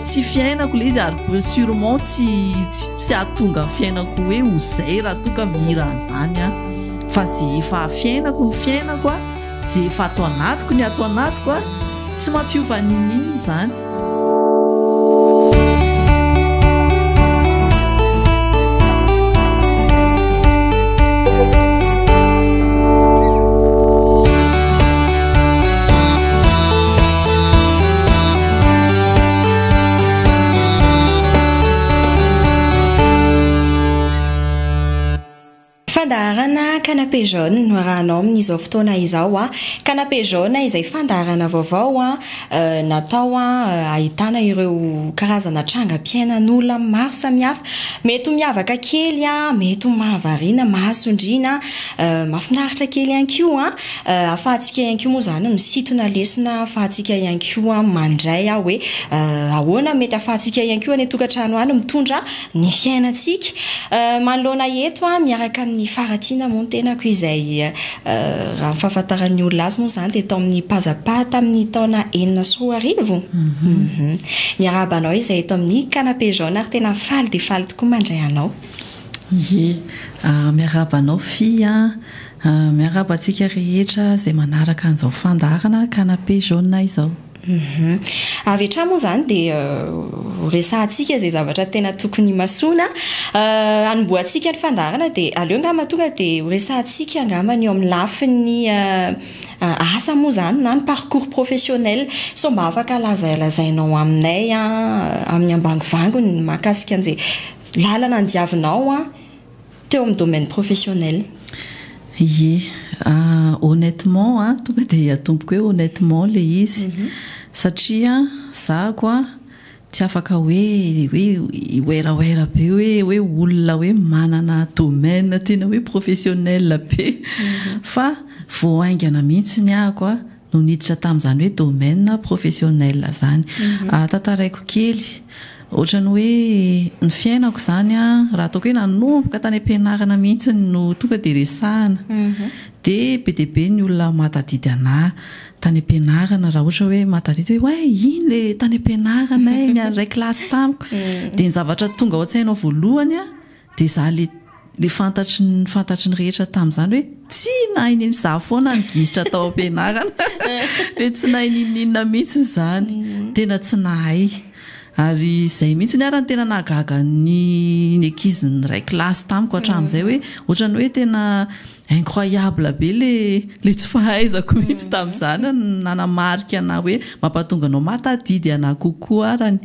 tsy fiainako le izy ary be sûrement tsy tsy tsy atonga ny fiainako hoe ho zay raha toa ka mihira an'izany a fa ze efa fiainako ny fiainako a ze efa ato anatiko ny ato anatiko a tsy mampiova n'in'inona izany Fandaharana Canapé Jaune no arahanao amin'izao fotoana izao. Canapé Jaune izay fandaharana vaovao natao ahitana ireo karazana trangam-piainan'olona maro samihafa. Mety ho miavaka kely, mety ho mahavariana maso indrina, mahafinaritra kely ihany koa. Ahafahantsika ihany koa moa izany misintona lesona ahafahantsika ihany koa mandray aho hoe ahoana mety ahafahantsika ihany koa any an-tokantrano any mitondra ny fiainantsika manoloana eto aho miaraka amin'ny faharatsiana moa ny tenako izay raha ny fahafantaran'ny olona azy moa izany dia tao amin'ny pazapaha tamin'ny taona enina sy roa arivo. Miarahaba anao izay eto amin'ny canapé jaune ary tena faly dia faly tokoa mandray anao. Ie, miarahaba anao Fy an! Miarahaba antsika rehetra izay manaraka an'izao fandaharana Canapé Jaune izao. Avy hatrany moa izany dia ho resahantsika izay zavatra tena tokony himasoana. Hanombohantsika ny fandaharana dia aleo angamba tonga dia ho resahantsika angamba ny eo amin'ny lafiny asa moa izany na ny parcours professionnel. Sao mba afaka lazalazainao aminay amin'ny ambangovangony ny mahakasika an'izay lalana andiavinao? teo amin'ny domaine professionnel. Ye. Honnêtement a, tonga dia atomboko hoe honnêtement ilay izy. Satria izaho koa tsy afaka hoe hoe hiweraoera be hoe hoe olona hoe manana domaine tena hoe professionnel be. Fa vao haingana mihitsy ny ahiko a. no niditra tamin'izany hoe domaine professionnel izany. Tantaraiko kely, ohatran'ny hoe ny fiainako izany raha ataoko hoe nanomboka tany am-pianarana mihitsy no tonga dia resahina dia be dia be ny olona mahatadidy anà tany am-pianarana raha ohatra hoe mahatadidy hoe hay iny ilay tany am-pianarana e, ny an'ny iray kilasy tamiko. Dia ny zavatra tonga ao an-tsainao voalohany Dia izaho ilay ilay fantatry ny fantatry ny rehetra tamin'izany hoe tsy nahay n'in izaho foana ny gisitra tao am-pianarana dia tsy nahay n'inon'inona mihitsy izany. Tena tsy nahay. Ary izay mihitsy ny ary no tena nahagaga ny ny ankizy niray kilasy tamiko hatramin'izay hoe ohatran'ny hoe tena incroyable be ilay ilay tsy fahaizako mihitsy tamin'izany no nanamarika anà hoe mampahatonga anao mahatadidy anà kokoa arany.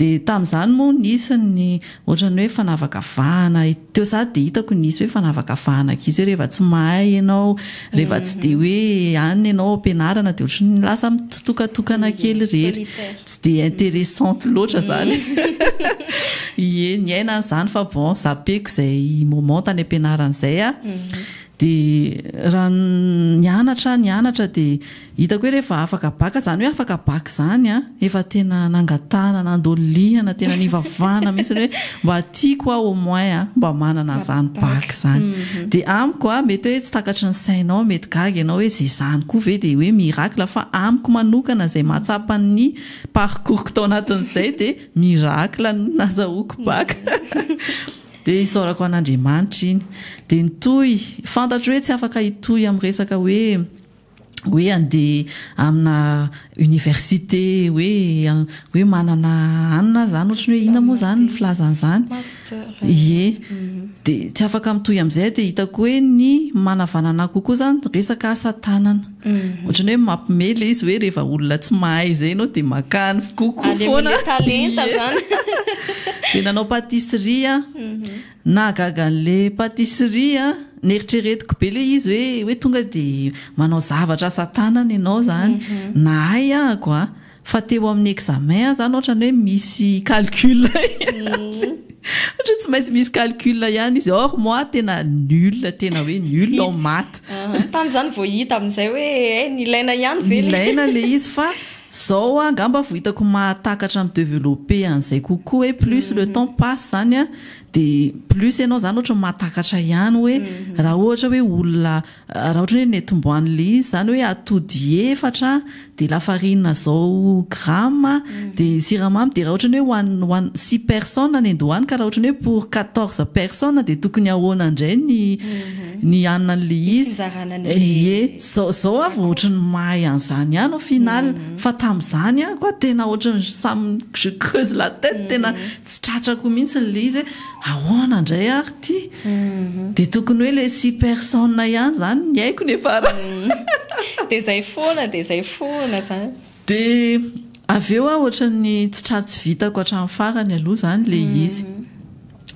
Dia tamin'izany moa nisy ny Ohatran'ny hoe fanavaka vahana e. Teo za dia hitako ny hisy hoe fanavaka vahana ankizy hoe rehefa tsy mahay ianao, rehefa tsy dia hoe any ianao am-pianarana dia ohatran'ny hoe lasa mitsitokatokana kely irery. Tsy dia interessante loatra izany. Ie, niaina an'izany fa bon, zappeko izay moment tany am-pianarana izay aho. Dia raha nianatra aho, nianatra dia. Hitako hoe rehefa afaka baka, izany hoe afaka baka izany an, efa tena nangatahana, nandolihana, tena nivavahana mihitsy ny hoe mba tiako aho au moins an, mba manana izany baka izany. Dia amiko an, mety hoe tsy takatry ny sainao, mety gaga ianao hoe izay izany koa ve dia hoe miracle, fa amiko manokana izay mahatsapa ny parcours-ko tao anatin'izay dia miracle no nazahoako baka. Dia isaorako an'Andriamanitra iny. Dia nitohy, fantatro hoe tsy afaka hitohy amin'ny resaka hoe, hoe andeha amina université hoe hoe manana anona zany ohatry ny hoe inona moa zany ny filazana zany ie dia tsy afaka mitohy amizay dia hitako hoe ny manavanana kokoa zany resaka asa tanana ohatry ny hoe mampime le izy hoe rehefa olona tsy mahay izay ianao dia makany kokoa foana talenta zany dia nanao pâtisserie aho Nahagaga an'le patisserie an! Neritreretiko be le izy hoe hoe tonga de manao zavatra asa tanana ianao zany. Nahay aho ako a! Fa teo amin'ny examen aho zany otrany hoe misy calcul ihany. Otrany tsy maintsy misy calcul ihany izy or moi tena nul tena hoe nul en maths. Tany zany vao hita amizay hoe eh nilaina ihany ve le izy. Nilaina le izy fa. Zao a ngamba vo hitako mahatakatra mi developper an'izay kokoa hoe plus le temps passe zany a de plus enao zany ohatry ny mahatakatra ihany hoe raha ohatra hoe olona raha ohatra hoe netombohan'le izy zany hoe atody efatra de lafarina zao grama de siramamy de raha ohatra ny hoe ho an six personnes ny andohany ka raha ohatra ny hoe pour quatorze personnes de tokony ahoana indray ny ny hanina an'le izy? Ny fitsinjarana an'le. Ie. Zao zao aho vao ohatran'ny mahay an'izany ihany au final fa tamin'izany ihany koa tena ohatran'ny ça me je creuse la tête tena tsy tratrako mihitsy ilay izy hoe ahoana indray ary ity dia tokony hoe ilay six personnes ihany izany ny aiko ny efa raha. Dia izay foana dia izay foana izany. Dia avy eo aho ohatran'ny tsy tra tsy vitako hatramin'ny farany aloha izany ilay izy.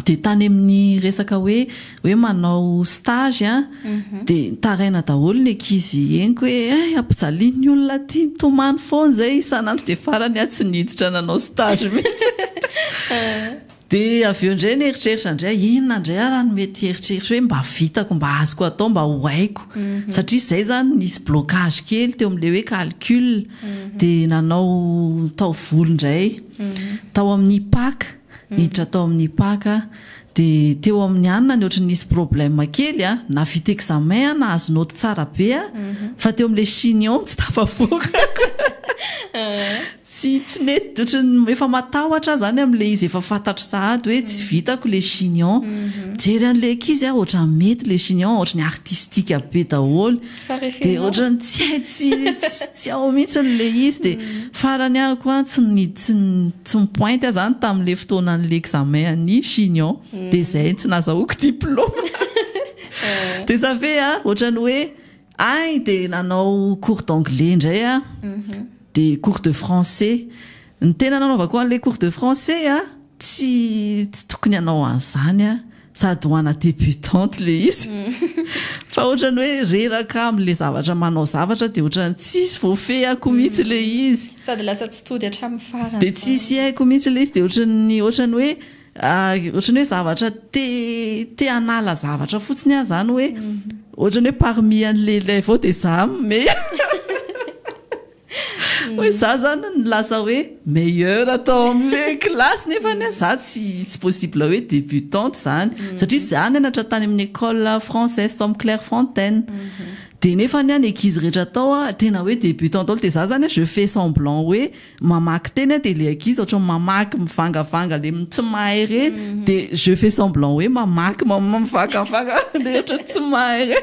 Dia tany amin'ny resaka hoe hoe manao stage an, dia nitaraina daholo ny ankizy henoko hoe hay ampijalian'ny olona aty mitomany foana izay isan'andro dia farany aho tsy niditra nanao stage mihitsy. Dia avy eo indray nieritreritra indray aho, inona indray ary no mety hieritreritra hoe mba vitako, mba azoko atao, mba ho haiko. Satria izay izany nisy blocage kely teo amin'ilay hoe calcul. Dia nanao taovolo indray. Tao amin'ny IPAC, niditra tao amin'ny IPAC aho. Dia teo amin'ny anona ny ohatran'ny nisy problème kely an, nahavita examen aho, nahazo note tsara be aho, fa teo amin'ilay chignon tsy tafavoaka. Tsy tsy nety ohatran'ny efa matahotra aho zany amin'ilay izy efa fantatro sahady hoe tsy vitako ilay chignon. Mijery an'ilay ankizy aho ohatran'ny mety ilay chignon ohatran'ny artistique be daholo. Dia ohatran'ny tsy hay tsy tsy ao mihitsy ilay izy dia farany aho koa tsy ny tsy tsy mi-pointe aho zany tamin'ilay fotoanan'ilay examen an'ny chignon. Dia izay tsy nazahoako diploma. Dia ça fait an ohatran'ny hoe Ahy dia nanao cours d'anglais indray aho, dia cours de français. Ny tena nanaovako an'ilay cours de français a, tsy tsy tokony hanao an'izany aho, sady ho ana débutante ilay izy, fa ohatran'ny hoe reraka amin'ilay zavatra manao zavatra dia ohatran'ny tsisy voafehiko mihitsy ilay izy. Sady lasa tsy tody hatramin'ny farany izany. Dia tsisy haiko mihitsy ilay izy, dia ohatran'ny ohatran'ny hoe Ohatran'ny hoe zavatra te te hanala zavatra fotsiny aho izany hoe ohatran'ny hoe parmi an'ilay ilay avy eo dia izaho no meilleur. Hoe izaho izany no lasa hoe meilleur tao amin'ilay kilasy nefany hoe izaho tsy tsy possible hoe débutante izany. Satria izaho nianatra tany amin'ny école française tao amin'ny Clairefontaine. Dia nefany an ny ankizy rehetra tao an tena hoe débutante daholo dia izaho izany an je fais semblant hoe Mamaky teny aho dia ilay ankizy ohatran'ny mamaky mivangavanga ilay tsy mahay re dia je fais semblant hoe mamaky mivangavanga ilay ohatran'ny tsy mahay re.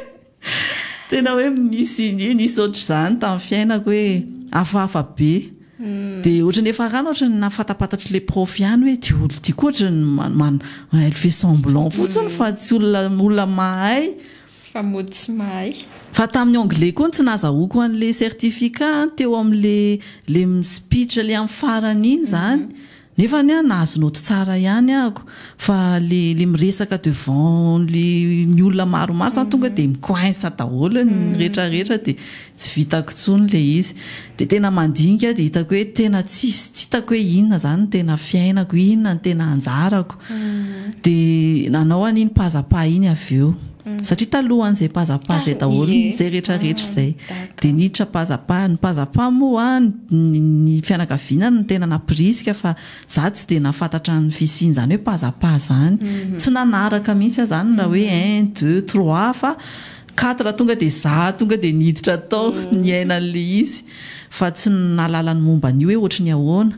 Tena hoe nisy nisy ohatr'izany tamin'ny fiainako hoe hafahafa be. Hmm. Dia ohatran'ny efa rano ohatran'ny nahafantapantatry ilay prof ihany hoe ity olona ity koa ohatran'ny man- man- elle fait semblant fotsiny fa tsy olona olona mahay Tsy fa mody tsy mahay. Fa tamin'ny anglais koa no tsy nazahoako an'ilay certificat an, teo amin'ilay ilay mi-speech ilay amin'ny farany iny izany. Nefa anie an, nahazo naoty tsara ihany aho ko. Fa ilay ilay miresaka devant ilay ny olona maromaro izany tonga dia mi-coince daholo ny rehetra rehetra dia Tsy vitako tsony ilay izy. Dia tena mandinika aho dia hitako hoe tena tsisy, tsy hitako hoe inona izany no tena fiainako, inona no tena anjarako. Dia nanao an'iny paza-pa iny avy eo. Satria talohan'izay paza-pa izay daholo izay rehetra rehetra izay. Dia niditra paza-pa. Ny paza-pa moa ny fianakaviana no tena nampirisika fa izaho tsy dia nahafantatra ny fisian'izany hoe paza-pa izany. Tsy nanaraka mihitsy aho izany raha hoe un, deux, trois fa. Quatre tonga dia za tonga dia niditra tao niaina an'ilay izy fa tsy nahalala ny momba an'io hoe ohatry ny ahoana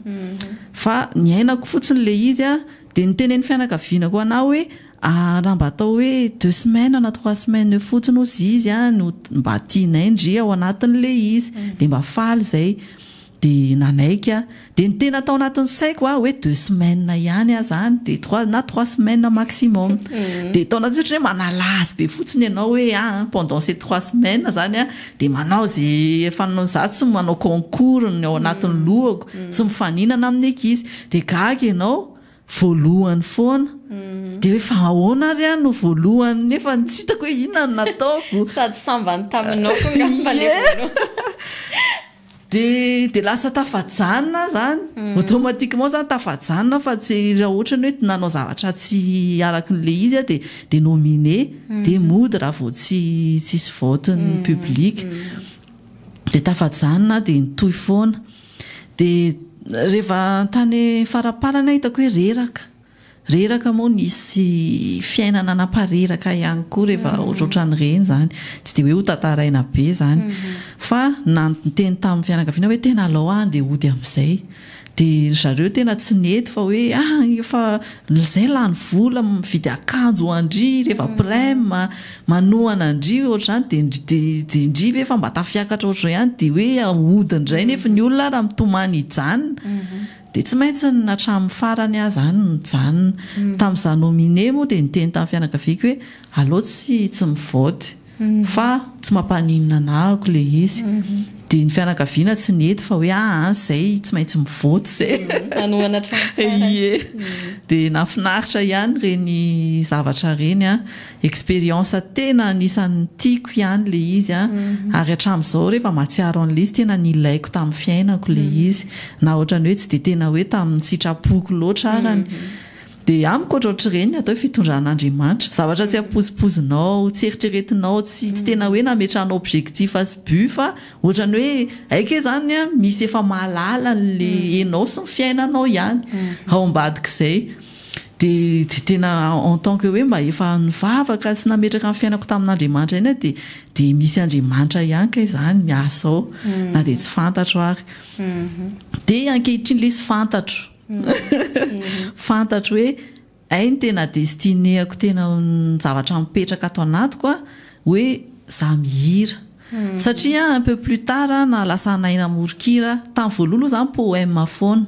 fa niainako fotsiny ilay izy a, dia niteny ny fianakaviana koa anah hoe raha mba atao hoe deux semaines na trois semaines eo fotsiny ozy izy a no mba tianay ndry ao anatin'ilay izy dia mba faly izay. Dia nanaiky aho. Dia ny tena tao anatin'ny saiko an, hoe deux semaines ihany aza any, dia trois, na trois semaines maximum. Dia tao anatin'ny saiko hoe manalà azy be fotsiny ianao hoe an, pendant ces trois semaines izany an, dia manao izay efa, izaho tsy manao concours ny ao anatin'ny lohako, tsy mifaninana amin'ny ankizy. Dia gaga ianao, voalohany foana. Dia hoe fa ahoana ary aho no voalohany nefa tsy hitako hoe inona no nataoko. Sady sambany taminao koa angamba ilay voalohany. Ie. Dia dia lasa tafajanona izany. Automatiquement izany tafajanona fa tsy raha ohatrany hoe nanao zavatra tsy araka an'ilay izy aho dia dia nominé. Dia mody raha vao tsy tsy hisy vote-n'ny public. Dia tafajanona aho dia nitohy foana. Dia rehefa tany faraparany aho hitako hoe reraka. Reraka moa nisy fiainana napareraka ihany koa rehefa ohatrohatran'ireny izany. Tsy dia hoe hotantaraina be izany. Fa niteny tamin'ny fianakaviana hoe tena alao aho handeha hody amin'izay. Dia ry zareo tena tsy nety fa hoe ah efa izay lany vola mividy akanjo ho an-dry rehefa prem, manohana an-dry ohatr'izany dia dia dia ndry ve efa mba tafiakatra ohatr'izao ihany dia hoe hody indray nefa ny olona raha mitomany hijanona. Dia tsy maintsy ny hatramin'ny farany aza any no nijanona. Tamin'ny za nominé moa dia niteny tamin'ny fianakaviako hoe aleo tsy tsy mivote fa tsy mampaninona anah ako ilay izy. Dia ny fianakaviana tsy nety fa hoe aa izay tsy maintsy mivote izay. Hanohana hatramin'ny farany. Ie. Dia nahafinaritra ihany ireny zavatra ireny an. Expérience tena anisan'ny tiako ihany ilay izy an, ary hatramin'izao rehefa mahatsiaro an'ilay izy tena nilaiko tamin'ny fiainako ilay izy, na ohatran'ny hoe tsy dia tena hoe tamin'ny sitrapoko loatra arany, dia amiko ohatr ohatr'ireny ny atao hoe fitondran'Andriamanitra, zavatra tsy ampoizipoizinao, tsy eritreretinao, tsy tsy tena hoe nametrahanao objectif sy but fa ohatran'ny hoe hay kay izany an, misy efa mahalala an'ilay enao sy ny fiainanao ihany ao ambadik'izay. Dia tena en tant que hoe mba efa nivavaka sy nametraka ny fiainako tamin'Andriamanitra ihany aho dia misy Andriamanitra ihany kay izany miasa ao na dia tsy fantatro ary. Dia ankehitriny lesy fantatro. Fantatro hoe hay ny tena destiné-ako tena ny zavatra mipetraka ato anatiko hoe izaho mihira. Satria un peu plus tard naha lasa anay namory kira, tamin'ny voalohany aloha zany poème foana,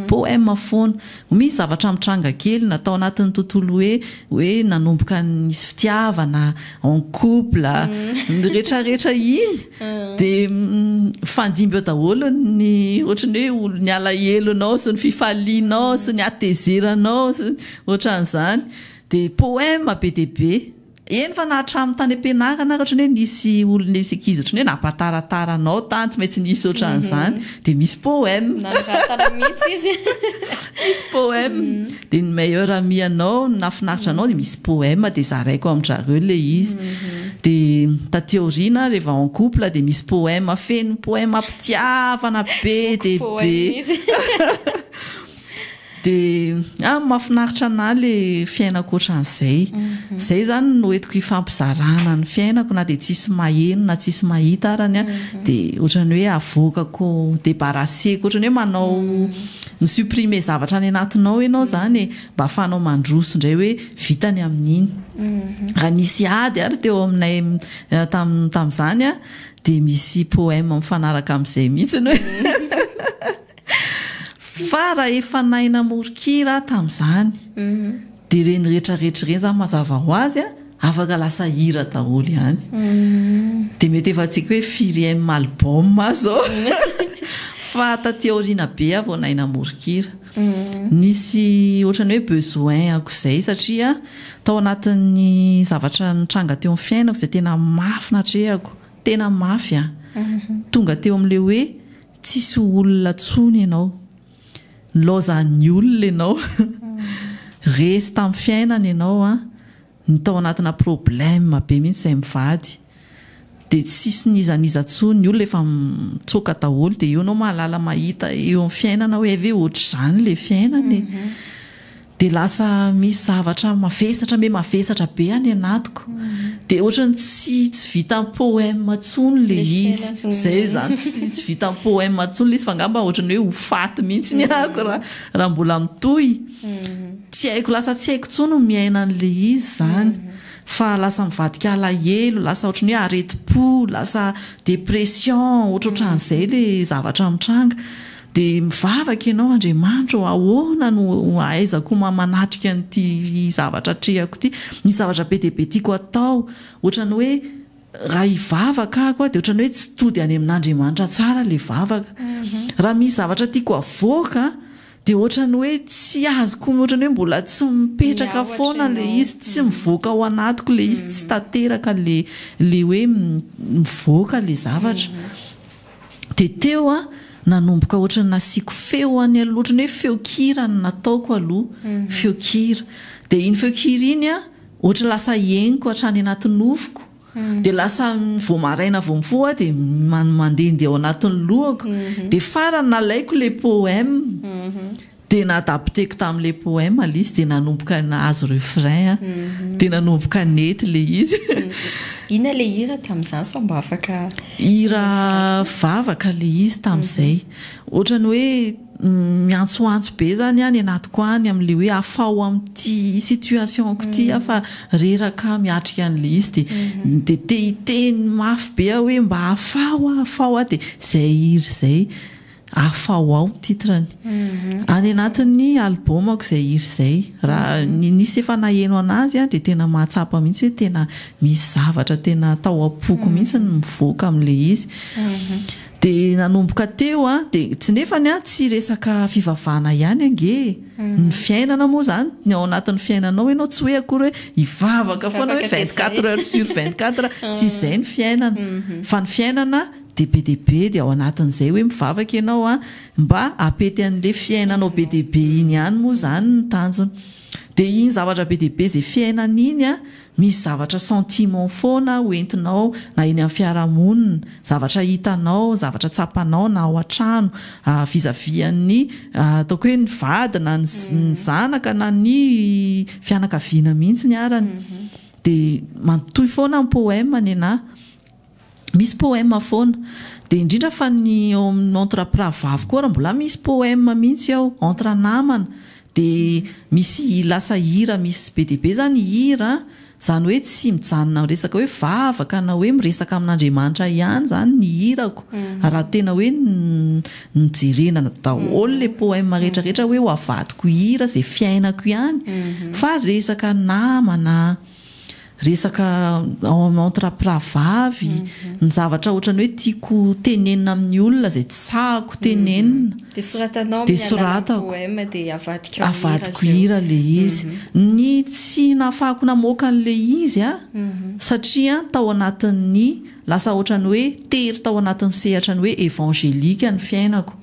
poème foana, vao misy zavatra mitranga kely na tao anatin'ny tontolo hoe hoe nanomboka nisy fitiavana, en couple, ny rehetra rehetra iny dia mifandimby eo daholo ny ohatran'ny hoe ny alahelonao sy ny fifalianao sy ny hatezeranao sy ny ohatran'izany dia poème be dia be. Eny fa na hatramin'ny tany am-pianarana ary ohatrany hoe nisy olona nisy ankizy ohatrany hoe nampataratara anao tany tsy maintsy nisy ohatran'izany dia misy poème Nangataka mihitsy izy. misy poème dia ny meilleur ami anao ny nahafinaritra anao dia misy poème dia zaraiko amin-drareo ilay izy dia taty aoriana rehefa en couple dia misy poème feno poème am-pitiavana be dia be Boky poème izy. Dia ah mahafinaritra anah le fiaina ankoatran'izay. Zay izany no entiko ifampizarana ny fiainako na dia tsisy maheno na tsisy mahita arany an, dia ohatrany hoe avoakako debaraseko ohatrany hoe manao mi supprimer zavatra any anatinao ianao izany e, mba afahanao mandroso indray hoe vita ny amin'iny. Raha nisy ady ary teo aminay tam- tamin'izany an, dia misy poème mifanaraka amin'izay mihitsy ny hoe. Fa raha efa nahay namoron-kira aho tamin'izany, dia ireny rehetra rehetra ireny izany mazava ho azy afaka lasa hira daholo ihany. Dia mety efa tsy haiko hoe firy M album aho izao. Fa taty aoriana be aho vao nahay namoron-kira. Nisy ohatran'ny hoe besoin ankoizay satria tao anatin'ny zavatra nitranga teo amin'ny fiainako izay tena mafy natrehako, tena mafy an! Tonga teo amin'ilay hoe. Tsisy olona tsony enao. Nilaozan'ny olona enao. Resy tamin'ny fiainana enao an. Ny tao anatina problème be mihitsy zay mivady. Dia tsisy n'iza n'iza tsony. Ny olona efa mitsoaka daholo. Dia eo enao mahalala mahita eo amin'ny fiainana hoe hay ve ohatr'izany le fiainana e. Dia lasa misy zavatra mavesatra me mavesatra be any anatiko. Dia ohatrany tsy tsy vita poème intsony le izy. Izay izany tsy tsy vita poème intsony le izy fa angamba ohatrany hoe ho faty mihitsy ny ahako raha raha mbola mitohy. Tsy haiko lasa tsy haiko intsony ny miaina an'le izy izany. Fa lasa mivadika alahelo, lasa ohatrany hoe aretim-po, lasa dépression, ohatrohatran'izay le zavatra mitranga. Dia mivavaka ianao, Andriamanitra ô, ahoana no ahaizako manatrika an'ity zavatra atrehako ity? Misy zavatra be dia be tiako atao, ohatran'ny hoe raha hivavaka ahako aho dia ohatran'ny hoe tsy tody any amin'Andriamanitra tsara ilay vavaka. Raha misy zavatra tiako havoaka dia ohatran'ny hoe tsy azoko, ohatran'ny hoe mbola tsy mipetraka foana ilay izy, tsy mivoaka ao anatiko ilay izy, tsy tanteraka ilay hoe mivoaka ilay zavatra. Dia teo aho nanomboka ohatran'ny nasiako feo any aloha, ohatran'ny hoe feon-kira no nataoko aloha, feon-kira. Dia iny feon-kira iny an, ohatran'ny lasa henoko hatrany anaty nofoko, dia lasa vao maraina vao mifoha aho dia mandehandeha ao anatin'ny lohako. Dia farany nalaiko ilay poème. Dia nadapteko tamin'ilay poème ilay izy dia nanomboka nahazo refrain aho. Dia nanomboka nety ilay izy. Inona ilay hira tamin'izany sao mba afaka. Hira vavaka ilay izy tamin'izay. Ohatran'ny hoe miantsoantso be izany aho any anatiko any amin'ilay hoe afaho amin'ity situation-ko ity aho fa reraka aho miatrika an'ilay izy. Dia dia te hiteny mafy be aho hoe mba afaho aho afaho aho dia izay hira izay. Afaho ao ny titre-ny. Any anatin'ny album-ko izay hira izay. Raha ny nisy efa naheno an'azy dia tena mahatsapa mihitsy hoe tena misy zavatra tena tao am-poko mihitsy ny mivoaka amin'ilay izy. Dia nanomboka teo dia tsy nefany tsy resaka fivavahana ihany ange e! Ny fiainana moa izany, ny ao anatin'ny fiainanao ianao tsy hoe akory hoe hivavaka foana hoe vingt quatre heures sur vingt quatre, tsy izay ny fiainana. Fa ny fiainana. Dia be dia be dia ao anatin'izay hoe mivavaka ianao an, mba apety an'le fiainanao be dia be iny ihany moa izany ny tanjona. Dia iny zavatra be dia be izay fiainana iny an, misy zavatra sentiment foana ho entinao na eny amin'ny fiarahamonina, zavatra hitanao, zavatra tsapanao na ao an-trano vis à vis an'ny ataoko hoe ny vady na ny zanaka na ny fianakaviana mihitsy ny arany. Dia matoy foana ny poème nenah. Misy poème foana. Dia indrindra fa ny ao amin'ny entre mpirahavavy koa ary mbola misy poème mihitsy ao. Entre namana. Dia misy lasa hira misy be dia be izany ny hira. Izany hoe tsy mijanona amin'ny resaka hoe vavaka na hoe miresaka amin'Andriamanitra ihany izany ny hirako. Raha tena hoe ny jerena daholo ilay poème rehetra rehetra hoe ho avadiko hira izay fiainako ihany. Fa resaka namana. resaka entre mpiravavy, ny zavatra ohatran'ny hoe tiako tenenina amin'ny olona izay tsy sahako tenenina, dia soratanao amin'ny alalan'ny poème dia avadikao hira, avadiko hira ilay izy, ny tsy nahafahako namoaka an'ilay izy satria tao anatin'ny Lasa ohatran'ny hoe tery tao anatin'ny sehatra ny hoe evangelika ny fiainako.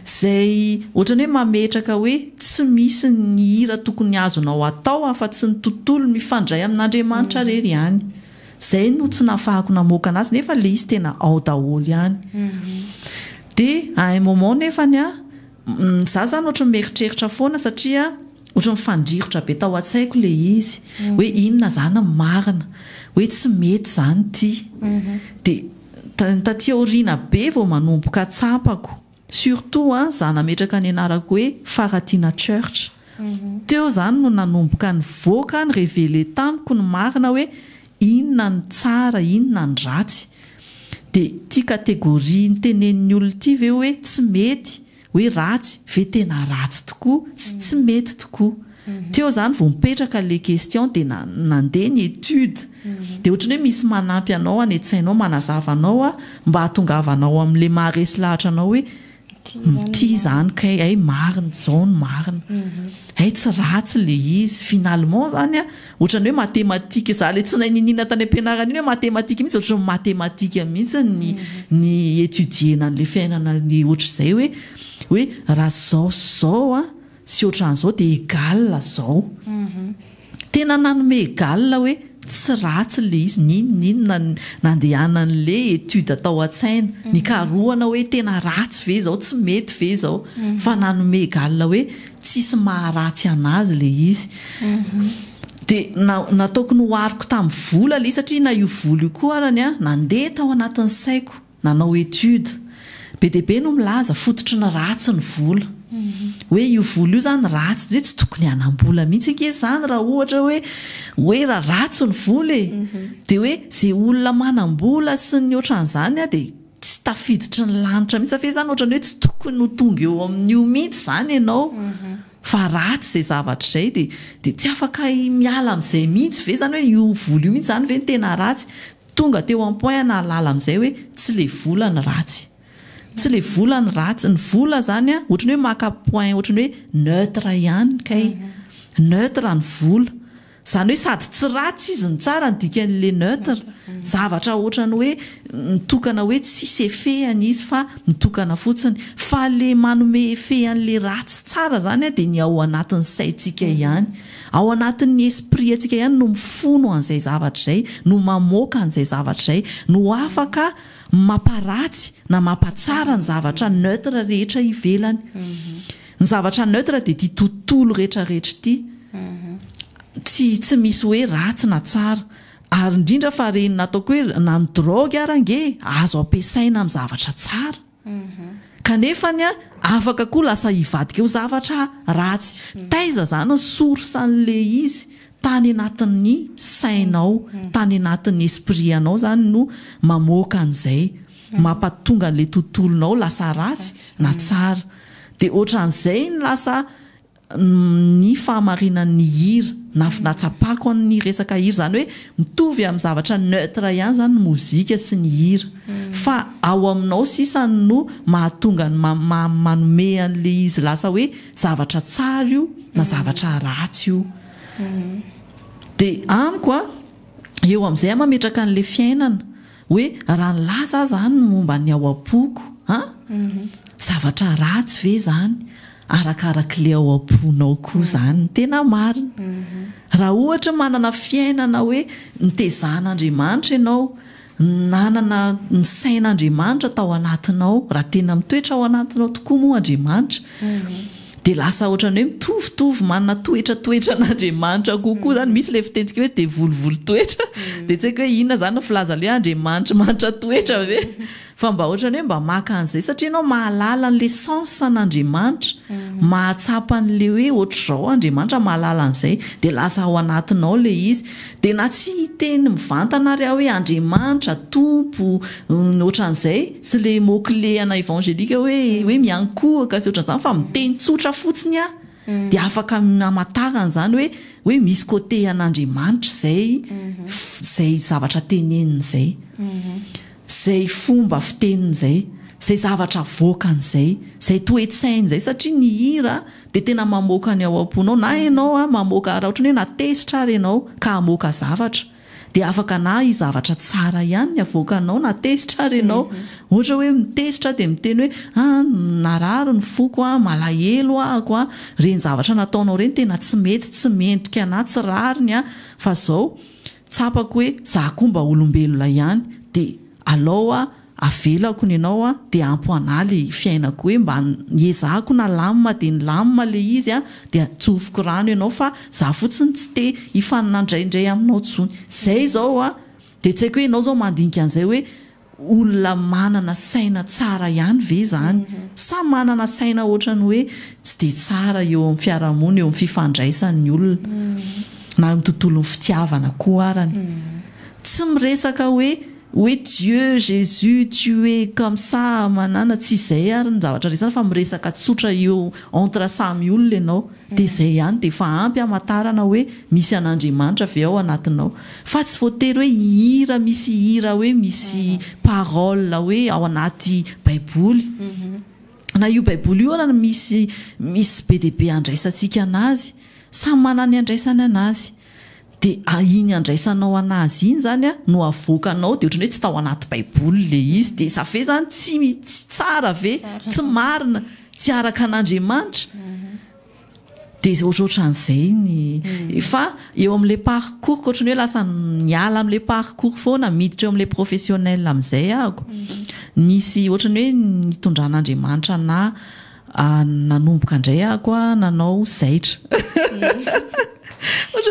Izay ohatran'ny hoe mametraka hoe tsy misy ny hira tokony azonao atao afa-tsy ny tontolo mifandray amin'Andriamanitra irery ihany. Izay no tsy nahafahako namoaka anazy nefa ilay izy tena ao daholo ihany. Dia à un moment nefany aho Za zany ohatry ny mieritreritra foana satria ohatry ny fandrirotra be tao an-tsaiko le izy hoe inona zany ny marina hoe tsy mety zany ty de taty aoriana be vao manomboka tsapako surtout a za nametraka ny anarako hoe Faratiana Church teo zany no nanomboka nivoaka nireveler tamiko ny marina hoe Inona ny tsara, inona ny ratsy? Dia ity catégorie nitenenin'ny olona ity ve hoe tsy mety, hoe ratsy, ve tena ratsy tokoa sy tsy mety tokoa? Teo izany vao mipetraka ilay question dia nandeha ny étude. Dia ohatran'ny hoe misy manampy anao any an-tsainao, manazava anao mba hahatongavanao amin'ilay maharesy lahatra anao hoe Ity izany kay ay marina izao no marina ay tsy ratsy le izy finalement izany a ohatran'ny hoe matematika za le tsy nahay niniana tany am-pianarana iny hoe matematika mihitsy ohatran'ny matematika mihitsy ny ny étudier-na an'ilay fiainana ny ohatr'izay hoe hoe raha izao sy izao a Tsy ohatran'izao dia egal zao. Tena nanome egal hoe tsy ratsy ilay izy n'inon'inona nandehanan'ilay étude tao an-tsaina. Nikarohana hoe tena ratsy ve izao, tsy mety ve izao. Fa nanome egal hoe tsisy maha ratsy an'azy ilay izy. Dia nataoko nohariko tamin'ny vola ilay izy satria na io vola io koa arany nandeha tao anatin'ny saiko. Nanao étude. Be dia be no milaza fototry ny ratsy ny vola. Hoe io vola io izany ratsy hoe tsy tokony hanam-bola mihitsy ange izany raha ohatra hoe hoe raha ratsy ny vola e. Dia hoe izay olona manam-bola sy ny ohatran'izany dia tsy tafiditry ny lanitra mihitsy. Ve izany ohatran'ny hoe tsy tokony ho tonga eo amin'io mihitsy izany ianao fa ratsy izay zavatra izay dia dia tsy afaka miala amin'izay mihitsy ve izany hoe io vola io mihitsy izany ve no tena ratsy. Tonga teo en point nahalala amin'izay hoe tsy le vola ny ratsy. Tsy le vola ny ratsy. Ny vola izany an, ohatran'ny hoe maka point ohatran'ny hoe neutre ihany kay. Neutre ny vola. Izany hoe sady tsy ratsy izy no tsara ny dikan'ilay neutre. Zavatra ohatran'ny hoe mitokana hoe tsisy effet an izy fa mitokana fotsiny. Fa ilay manome effet an'ilay ratsy sy tsara izany an dia ny ao anatin'ny saintsika ihany. Ao anatin'ny esprit antsika ihany no mifono an'izay zavatra izay, no mamoaka an'izay zavatra izay, no afaka mamparatsy na mampatsara ny zavatra neutre rehetra ivelany. Ny zavatra neutre dia ity tontolo rehetrarehetra ity. Tsy tsy misy hoe ratsy na tsara. Ary indrindra fa ireny nataoko hoe na ny drogue ary ange azo ampiasaina amin'ny zavatra tsara. Kanefa ny ahy afaka koa lasa hivadika ho zavatra ratsy. Taiza izany ny source an'ilay izy? Tany anatin'ny sainao, tany anatin'ny esprit anao izany no mamoaka an'izay mampatonga an'ilay tontolonao lasa ratsy na tsara. Dia ohatran'izay ny lasa ny fahamarinany ny hira na nahatsapako an ny resaka hira izany hoe mitovy amin ny zavatra neutre ihany izany ny mozika sy ny hira fa ao aminao sisa no mahatonga ny ma manome an le izy lasa hoe zavatra tsara io na zavatra ratsy io dia amiko an eo amin izay an mametraka an le fiainana Hoe raha nilaza aho izany ny momba ny ao am-poko an! zavatra ratsy ve izany arakarak'ilay ao am-ponao koa izany ny tena marina? Raha ohatra hoe manana fiainana hoe nitezahan'Andriamanitra ianao, nanana ny sain'Andriamanitra tao anatinao, raha tena mitoetra ao anatinao tokoa moa Andriamanitra, Dia lasa ohatran'ny hoe mitovitovy manana toetra toetra an'Andriamanitra kokoa izany. Misy ilay fitentsika hoe devoly-voly toetra. Dia tsy haiko hoe inona izany no filazany hoe Andriamanitry manitra toetra ve? Fa mba ohatran'ny hoe mba maka an'izay satria ianao mahalala an'ilay sens an'Andriamanitra. Mahatsapa an'ilay hoe ohatr'izao Andriamanitra mahalala an'izay. Dia lasa ao anatinao ilay izy. Dia na tsy hiteny mivantana ary aho hoe Andriamanitra, Tompo, ny ohatran'izay, sy ilay mot clé ana evangelique hoe hoe miankohoka sy ohatran'izany fa miteny tsotra fotsiny aho dia afaka hamantarana izany hoe hoe misy côté an'Andriamanitra izay izay zavatra teneniny izay. izay fomba fiteniny izay, izay zavatra avoakany izay, izay toe-tsainy izay satria ny hira dia tena mamoaka ny ao am-ponao na ianao mamoaka raha ohatran'ny hoe na tezitra ary ianao ka hamoaka zavatra dia afaka na hisy zavatra tsara ihany ny avoakanao na tezitra ary ianao ohatra hoe mitezitra dia miteny hoe a narary ny foko a malahelo ahako a ireny zavatra nataonao ireny tena tsy mety tsy mendrika na tsy rariny a fa izao tsapako hoe zah koa mba olombelona ihany de alou ah avelako ny anao ah de ampo anah le fiainako hoe mba niezahako nalamina de nilamina le izy ah de atsofoko rano ianao fa zah fotsiny tsy te hifaninandraindray aminao tsony zay zao ah de tsy haiko hoe ianao zao mandinika an'izay hoe olona manana saina tsara ihany ve izany sa manana saina ohatran'ny hoe tsy dia tsara eo amin'ny fiarahamonina, eo amin'ny fifandraisany ny olona na eo amin'ny tontolon'ny fitiavana koa arany? Tsy miresaka hoe hoe Dieu, Jesus, tu es comme ça amanana, tsy izay ary ny zavatra resahana fa miresaka tsotra eo entre samy olona ianao. Dia izay ihany dia efa ampy hamantarana hoe misy an'Andriamanitra ve ao anatinao. Fa tsy voatery hoe hihira misy hira hoe misy paroles hoe ao anaty baiboly. Na io baiboly io aza misy misy be dia be andraisantsika an'azy. Samy manana ny andraisany an'azy. Dia iny handraisanao an azy iny izany an no avoakanao dia ohatran'ny hoe tsy tao anaty baiboly ilay izy dia ça fait izany tsy tsy tsara ve? tsy marina? tsy araka an Andriamanitra? dia izay ohatrohatran'izay ny fa eo amin'ilay parcours ko ohatran'ny hoe lasa miala amin'ilay parcours foana miditra eo amin'ilay professionnel amin'izay aho ko misy ohatran'ny hoe nitondran'Andriamanitra anah Ah, nanomboka indray aho koa nanao zaitra.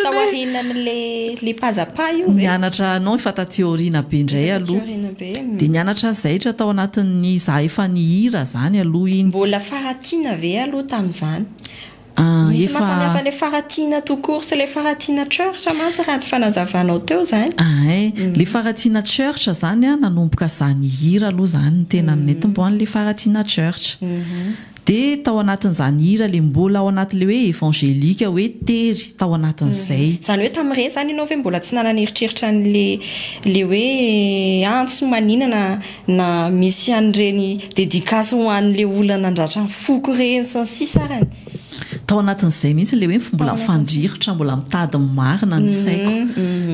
Tao aorianan'le le pazapa io ve? Nianatra non efa taty aoriana be indray aloha. Taty aoriana be. Hmm. Dia nianatra zaitra tao anatin'ny izaho efa nihira izany aloha iny. Mbola faratiana ve aloha tamin'izany? Misy mahasamihafa ilay faratsiana tout court sy ilay faratsiana Church mantsy raha ny fanazavanao teo izany. Ahay, ilay faratsiana Church izany an, nanomboka izaho nihira aloha izany no tena nentim-bo an'ilay faratsiana Church. Dia tao anatin'izany hira ilay mbola ao anatin'ilay hoe evangelique hoe tery, tao anatin'izay. Izany hoe tamin'ireny izany ianao ve mbola tsy nanana eritreritra an'ilay ilay hoe antso maninona? na misy an'ireny dedicace ho an'ilay olona nandratra ny foko ireny sy ny sisa arany. Tao anatin'izay mihitsy ilay hoe mbola fandrihitra, mbola mitady ny marina ny saiko.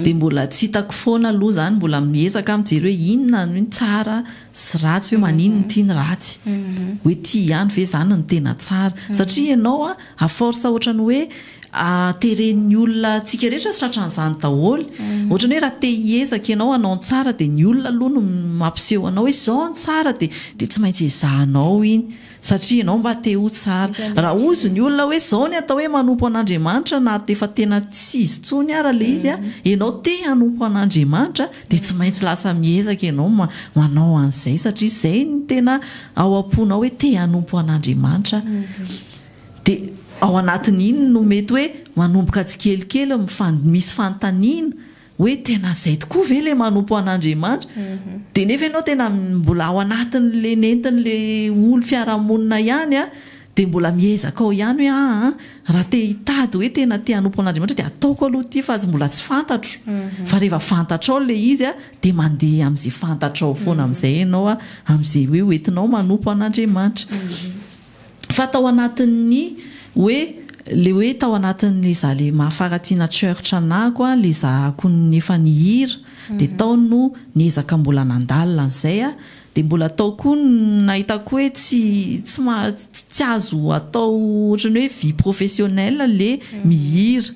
Dia mbola tsy hitako foana aloha izany, mbola miezaka aho mijery hoe inona ny tsara sy ratsy, hoe maninona ity ny ratsy. Hoe ity ihany ve izany no tena tsara? Satria ianao à force ohatran'ny hoe. Ateren'ny olona antsika rehetra tratran'izany daholo. Ohatran'ny hoe raha te hiezaka ianao hanao ny tsara dia ny olona aloha no mampiseho anao hoe izao ny tsara dia dia tsy maintsy ezahanao iny satria ianao mba te ho tsara. Raha hozy ny olona hoe izao ny atao hoe manompo an'Andriamanitra na efa tena tsy izy intsony ara ilay izy, ianao te hanompo an'Andriamanitra dia tsy maintsy lasa miezaka ianao manao an'izay satria izay no tena ao am-ponao hoe te hanompo an'Andriamanitra aho. Dia ao anatin' iny no mety hoe manomboka tsikelikely mifan misy fanontaniana hoe tena izay tokoa ve ilay manompo an' Andriamanitra? Dia nefa ianao tena mbola ao anatin' ilay nentin' ilay olo fiarahamonina ihany an, dia mbola miezaka ao ihany hoe aah an, raha te hitady hoe tena te hanompo an' Andriamanitra dia ataoko aloha ity fa mbola tsy fantatro. Fa rehefa fantatrao ilay izy an, dia mandeha amin' izay fantatrao foana amin' izay ianao an, amin' izay hoe ho entinao manompo an' Andriamanitra. Fa tao anatin'ny hoe le hoe tao anatin'le za le mahafaratina church anako an, le zahako ny efa nihira de tao no niezaka mbola nandalina an'izay an, de mbola tao koa no nahitako hoe tsy tsy maha tsy azo atao ohatran'ny hoe vie professionnelle le mihira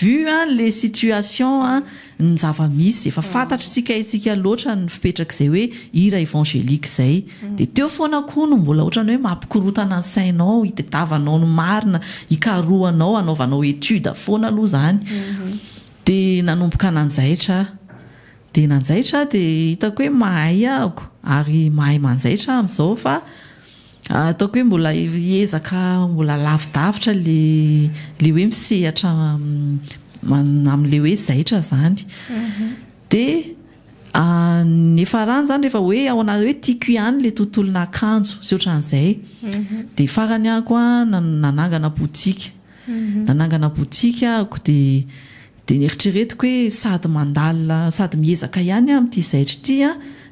vu an le situation an ny zava-misy, efa fantatry tsika hetsika loatra ny fipetrak'izay hoe hira evangelique izay, dia teo foana koa no mbola ohatran'ny hoe mampikorontana ny sainao, itadiavanao ny marina, ikarohanao, anaovanao étude foana aloha izany, dia nanomboka nanjaitra aho, dia nanjaitra aho dia hitako hoe mahay aho, ary mahay manjaitra aho amin'izao fa Ataoko hoe mbola hiezaka mbola lavidavitra ilay hoe misehatra amin'ilay hoe zaitra izany. Dia ny farany izany rehefa hoe ao anaty hoe tiako ihany ilay tontolon'akanjo sy ohatran'izay. Dia farany aho koa nanangana boutique. Nanangana boutique aho dia dia neritreretiko hoe sady mandala sady miezaka ihany aho amin'ity zaitra ity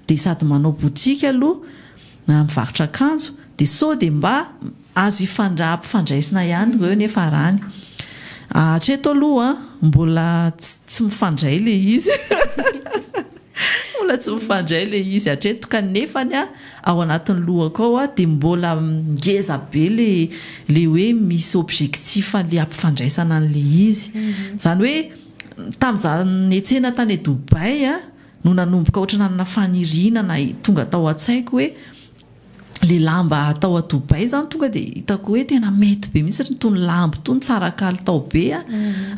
dia sady manao boutique aloha. Na mivarotra akanjo dia sao dia mba azo hifandra ampifandraisina ihany ireo nefa arany. Hatreto aloha mbola tsy mifandray le izy mbola tsy mifandray le izy hatreto ka nefany ao anatin'ny lohako ao dia mbola ngeza be le le hoe misy objectif le ampifandraisana an'le izy. Izany hoe tamin'izaho nihetsena tany Dubaï no nanomboka ohatra nanana faniriana na tonga tao an-tsaiko hoe le lamba atao à Dubaï zany tonga dia hitako hoe tena mety be mihitsy itony lamba itony tsara kalitao be ah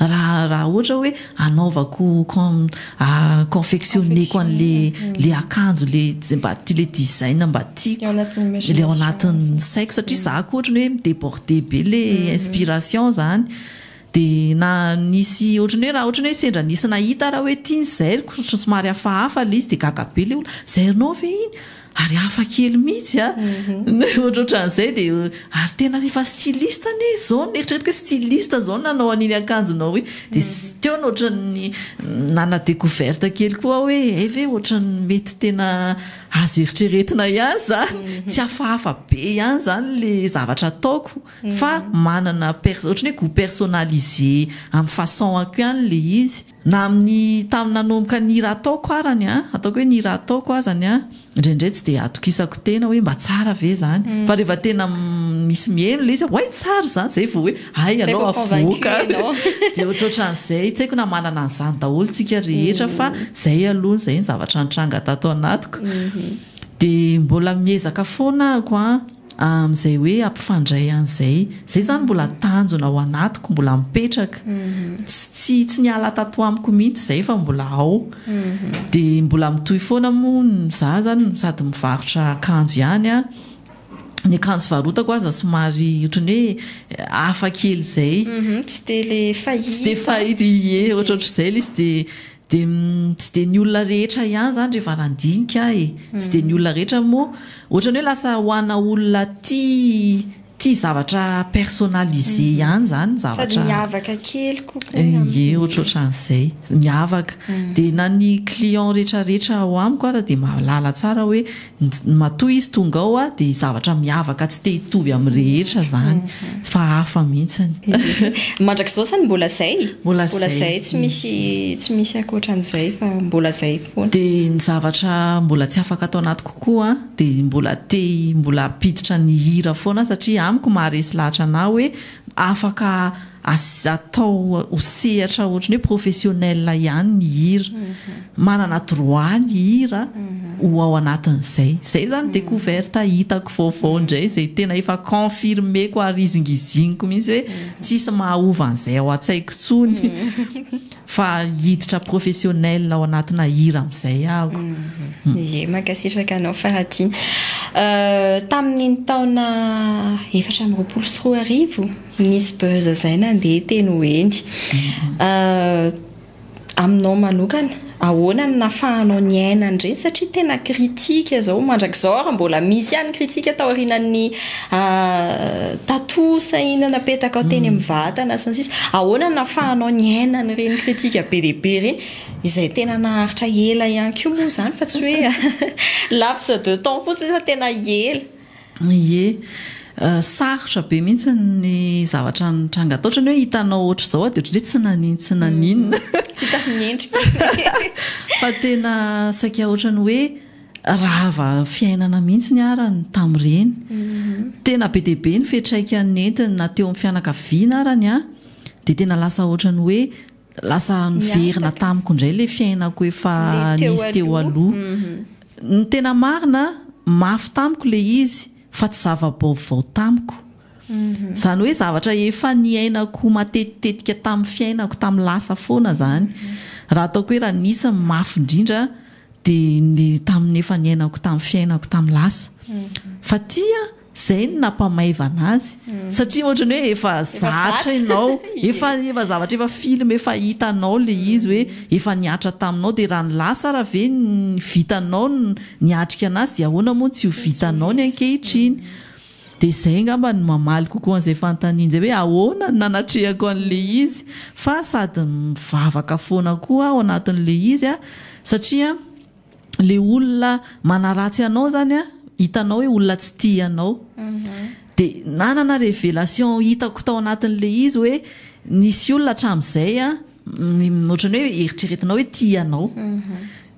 raha raha ohatra hoe anaovako com- ah, confectionner-ko an'le le akanjo le tsy- mba ti- le design mba tiako Ao anatin'ny le ao imagination. anatin'ny saiko satria za koa ohatra ny hoe mi-deborder be le inspiration zany Dia na nisy ohatran'ny hoe raha ohatran'ny hoe sendra nisy nahita aho raha hoe ity ny zairiko, ohatran'ny somary hafahafa ilay izy dia gaga be ilay olona, zairinao ve iny? ary hafa kely mihitsy an! ohatrohatran'izay dia ary tena efa styliste anie izao, neritreretiko hoe styliste izao no nanao an'iny akanjonao iny, dia teo no ohatran'ny nana decouverte kely koa aho hoe hay ve ohatran'ny mety tena azo eritreretina ihany izany, tsy hafahafa be ihany izany ilay zavatra ataoko. fa manana pers ohatran'ny hoe goût personnalisé amin'ny façon-ako ihany le izy na amin'ny tamin'ny nanomboka ny hira ataoko arany an, ataoko hoe ny hira ataoko azany an, indraindray tsy dia atokisako tena hoe mba tsara ve izany fa rehefa tena misy miheno ilay izy aho hay tsara izany izay vao hoe hay ianao avoaka dia ohatrohatran'izay tsy haiko na manana an'izany daholo isika rehetra fa izay aloha izay ny zavatra nitranga tato anatiko dia mbola miezaka foana ako an. Amin'izay hoe hampifandray an'izay. Izay izany mbola tanjona ao anatiko, mbola mipetraka. Tsy tsy niala tato amiko mihitsy izay fa mbola ao. Dia mbola mitohy foana moa ny izaho izany sady mivarotra akanjo ihany an, ny akanjo varotako aza somary ohatran'ny hoe hafa kely izay. Tsy dia ilay fahita. Tsy dia fahita, ie, ohatraohatr'izay ilay izy dia. Dia tsy dia ny olona rehetra ihany izany rehefa nandinika ahy e. Tsy dia ny olona rehetra moa, ohatran'ny hoe lasa ho ana olona tia tia zavatra personnalisé ihany izany ny zavatra. Sady miavaka kely kokoa ny amiko. Ie, ohatrohatran'izay. Miavaka. Dia na ny client rehetrarehetra ao amiko aza dia mahalala tsara hoe Ny matoa izy tonga ao dia zavatra miavaka tsy te hitovy amin'ny rehetra izany fa hafa mihitsy. Mandrakizao izany mbola izay? Mbola izay, tsy misy tsy misy ankoatran'izay fa mbola izay foana. Dia ny zavatra mbola tsy afaka ato anatiko koa dia mbola te mbola hampiditra ny hira foana satria amiko maharesy lahatra anah hoe Afaka atao ho sehatra ohatran'ny hoe professionnel ihany ny hira. Manana droit ny hira ho ao anatin'izay. Izay izany découverte hitako vaovao indray, izay tena efa confirmer-ko ary izingiziniko mihitsy hoe tsisy mahahova an'izay ao an-tsaiko intsony. Fa hiditra professionnel ao anatina hira amizay aho. Ye, mankasitraka anao Faratina. Tamin'ny ny taona efatra amby roapolo sy roa arivo, nisy buzz zay nandeha teny ho eny. Aminao manokana, ahoana no nafahanao niaina an'ireny satria tena critique zao mandrakizao ary mbola misy ihany ny critique taorianan'ny A Tato sahina napetakao teny amin'ny vatana sy ny sisa Ahoana no nafahanao niaina an'ireny kritika be dia be ireny izay tena naharitra ela ihany koa moa izany fa tsy hoe laps de temps fotsiny fa tena ela. Ie, sarotra be mihitsy ny zavatra nitranga tao. Ohatran'ny hoe hitanao ohatr'izao aho dia ohatran'ny hoe tsy nanin tsy naninona. Tsy hita ny endrika. Fa tena saika ohatran'ny hoe. Rava fiainana mihitsy ny ara ny tamin'ireny. Tena be dia be ny fiantraikany nentiny na teo amin'ny fianakaviana ara ny ahy dia tena lasa ohatran'ny hoe lasa niverina tamiko indray ilay fiainako efa nisy teo aloha. Ny tena marina, mafy tamiko ilay izy fa tsy zava-baovao tamiko. Izany hoe zavatra efa niainako matetitetika tamin'ny fiainako tamin'ny lasa foana izany. Raha ataoko hoe raha nisy ny mafy indrindra, Dia ny tamin'ny efa niainako tamin'ny fiainako tamin'ny lasa. Fa tia, izay no nampamaivana azy. Satria ohatran'ny hoe efa zatra ianao, efa efa zavatra efa film efa hitanao ilay izy hoe efa nihatra taminao dia raha ny lasa ary ve ny vitanao no niatrika an'azy dia ahoana moa no tsy ho vitanao ny ankehitriny. Dia izay angamba no mamaly kokoa an'izay fanontaniana izay hoe ahoana no nanatrehako an'ilay izy fa sady mivavaka foana koa aho anatin'ilay izy satria ilay olona manaratsy anao izany hitanao hoe olona tsy tia anao. Dia nanana révélation hitako tao anatin'ilay izy hoe nisy olona hatramin'izay Ohatran'ny hoe eritreretinao hoe tia anao.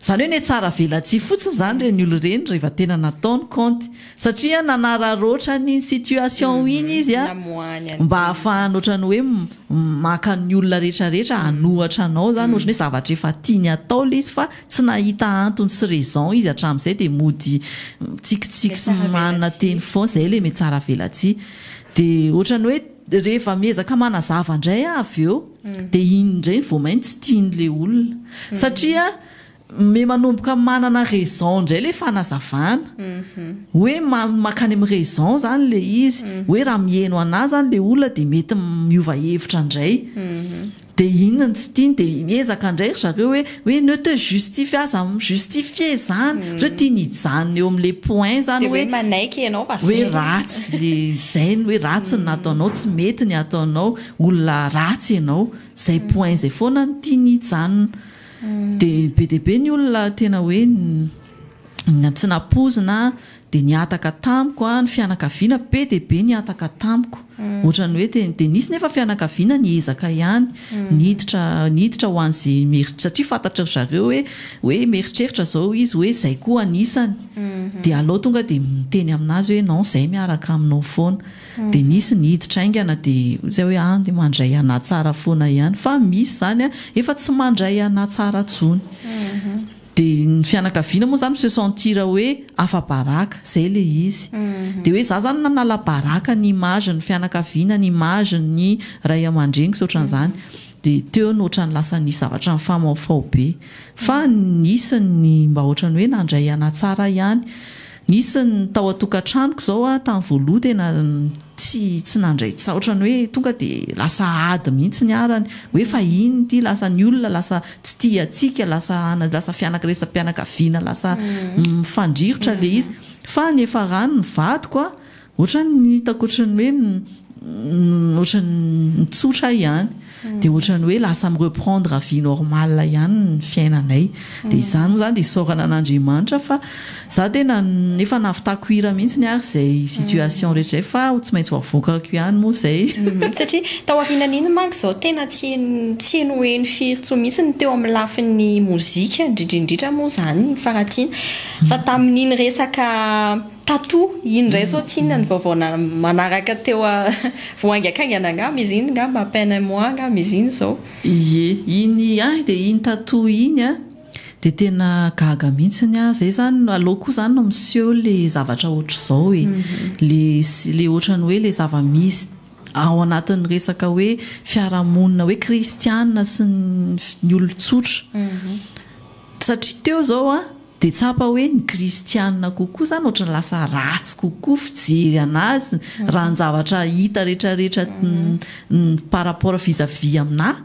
Izany hoe netsara velatsihy fotsiny izany ireny olona ireny rehefa tena natao ny kaonty. Satria nanararaotra ny situation iny izy mba hahafahany ohatran'ny hoe maka ny olona rehetrarehetra hanohatra anao izany. Ohatran'ny hoe zavatra efa tiany atao ilay izy fa tsy nahita antony sy raison izy hatramin'izay dia mody mitsikitsiky sy manana teny foana. Izay ilay metsara velatsihy. Dia ohatran'ny hoe. Dia rehefa miezaka manazava indray aho avy eo, dia iny indray vao mainka tsy tian'ilay olona. Satria me manomboka manana raison indray ilay fanazavana. Hoe mankany amin'ny raison izany ilay izy. Hoe raha miheno anà izany ilay olona dia mety miova hevitra indray. Dia inona no tsy tiany? Dia miezaka indray ry zareo hoe hoe ne te justifie aza mi justifier izany. Ohatrany tiany hijanona eo amin'ilay point izany hoe. Dia hoe manaiky ianao fa zay. Hoe ratsy ilay izay ny hoe ratsy ny nataonao, tsy mety ny ataonao, olona ratsy ianao. Izay point izay foana no tiany hijanona. Dia be dia be ny olona tena hoe tsy nampoizina Dia nihataka tamiko ny fianakaviana, be dia be nihataka tamiko. Ohatran'ny hoe tena, dia nisy nefa fianakaviana niezaka ihany, niditra, niditra ho an'izay meri-, satria fantatry ry zareo hoe, hoe mieritreritra izao izy hoe izay koa anisany. Dia alou tonga dia miteny amin'azy hoe non izay miaraka aminao foana. Dia nisy niditra haingana dia hoy zay hoe an, mandray anah tsara foana ihany. Fa misy izany an, efa tsy mandray anah tsara tsony. Dia ny fianakaviana moa zany mi se sentir hoe afa-baraka, zay le izy. Dia hoe za zany nanala baraka ny image ny fianakaviana, ny image ny ray aman-dreniko sy otran'izany. Dia teo no otrany lasa nisy zavatra nifamaofao be. Fa nisy ny mba otrany hoe nandray an-tsara ihany. Nisy ny tao an-tokantranoko izao aho tamin'ny voaloha tena tsy tsy nandray tsaotra ny hoe tonga dia lasa ady mihitsy ny ara ny hoe fahiny ity lasa ny olona lasa tsy tia antsika lasa ana lasa fianakresampianakaviana lasa mifandrirotra ilay izy fa ny efa rano ny vadiko a Ohatrany ny hitako ohatrany hoe ohatrany mitsotra aho ihany dia ohatrany hoe lasa mi reprendre vie normale ihany ny fiainanay dia izany moa izany dia isaorana an'Andriamanitra fa za tena efa nahavitako hira mihitsy ary izay situation rehetra izay fa tsy maintsy ho avoakako ihany moa izay satria taorianan'iny manko izao tena tsy tsy heno ho heno firy intsony mihitsy ny teo amin'ny lafin'ny mozika indrindra indrindra moa izany ny faharatsiana fa tamin'iny resaka Tato iny indray zao tsy inona ny vaovao na manaraka teo a voaingankaingana angaha mais iny ngamba à peine un mois angaha mais iny zao. Ie, iny ahy dia iny tato iny a, dia tena gaga mihitsiny aho, zay zany no, aleo koa zany no miseho le zavatra ohatr'izao e, le le ohatran'ny hoe le zava-misy ao anatin'ny resaka hoe fiarahamonina hoe kristiana sy ny ny olon-tsotra. Satria teo izao aho dia tsapa hoe ny kristiana kokoa izany ohatran'ny lasa ratsy kokoa fijery an'azy raha ny zavatra hita retraretra par rapport vis à vis aminà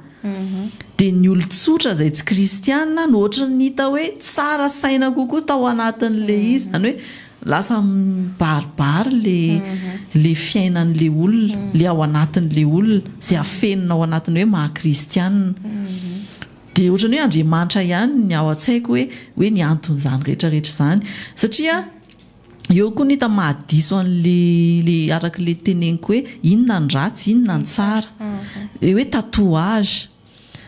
dia ny olon-tsotra izay tsy kristiana no ohatran'ny hita hoe tsara saina kokoa tao anatin'ilay izy izany hoe lasa mibaribary ilay ilay fiainan'ilay olona ilay ao anatin'ilay olona izay afenina ao anatin'ny hoe maha kristiana Dia ohatran'ny hoe Andriamanitra ihany ny ao an-tsaiko hoe hoe ny anton'izany rehetra rehetra izany. Satria eo koa ny hita maha diso an'ilay ilay araka ilay teneniko hoe inona ny ratsy inona ny tsara. Ilay hoe tatouage.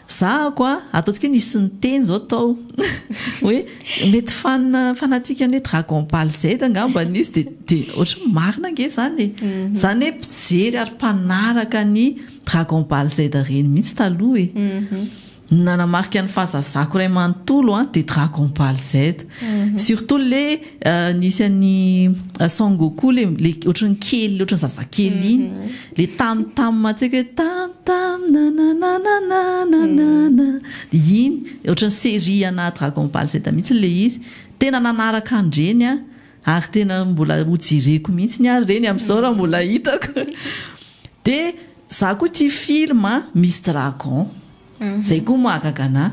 Za ako a, ataontsika hoe nisy niteny izao tao hoe mety fan fanatique an'ilay dragon ball Z angamba izy dia dia ohatran'ny hoe marina ange izany e. Izany hoe mpijery ary mpanaraka ny Dragon Ball Z reny mihitsy taloha e. Ny nanamarika ny fahazazako iray manontolo an, dia Dragon Ball Z. Surtout ilay nisy an'i Son Goku ilay ohatran'ny kely, ohatran'ny zazakely iny. Ilay tam tam mantsika hoe tam tam nananananananana. Dia iny, ohatran'ny série ana Dragon Ball Z mihitsy ilay izy. Tena nanaraka an'ireny aho. ary tena mbola ho jereko mihitsy ny ary reny amin'izao raha mbola hitako dia za koa tia film misy dragon zay koa mahagaga anah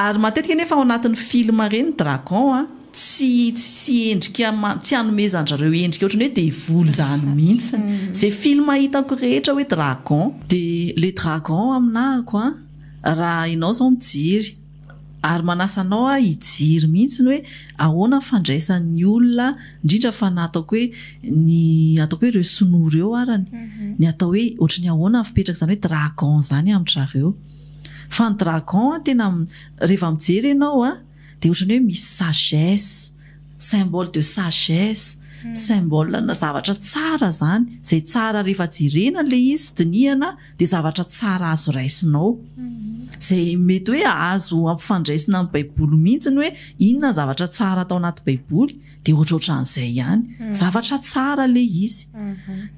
ary matetika nefa ao anatin'ny film reny dragon a tsy tsy endrika tsy anomezan'zareo endrika ohatrany hoe devoly zany mihitsy zay film hitako rehetra hoe dragon dia le dragon aminahako a raha enao zao mijery Ary manasa anao aho hijery mihitsy ny hoe ahoana ny fandraisan'ny olona, indrindra fa ny ataoko hoe ny ataoko hoe ireo sinoa ireo arany, ny atao hoe ohatry ny ahoana ny fipetraka izany hoe dragon izany amin-dry zareo. Fa ny dragon tena rehefa mijery ianao dia ohatry ny hoe misy sagesse, symbole de sagesse, symbole-na zavatra tsara izany, izay tsara rehefa jerena ilay izy, dinihana. dia zavatra tsara azo raisinao, izay mety hoe azo ampifandraisina amin'ny Baiboly mihitsy ny hoe inona ny zavatra tsara atao anaty Baiboly, dia ohatrohatran'izay ihany. Zavatra tsara ilay izy.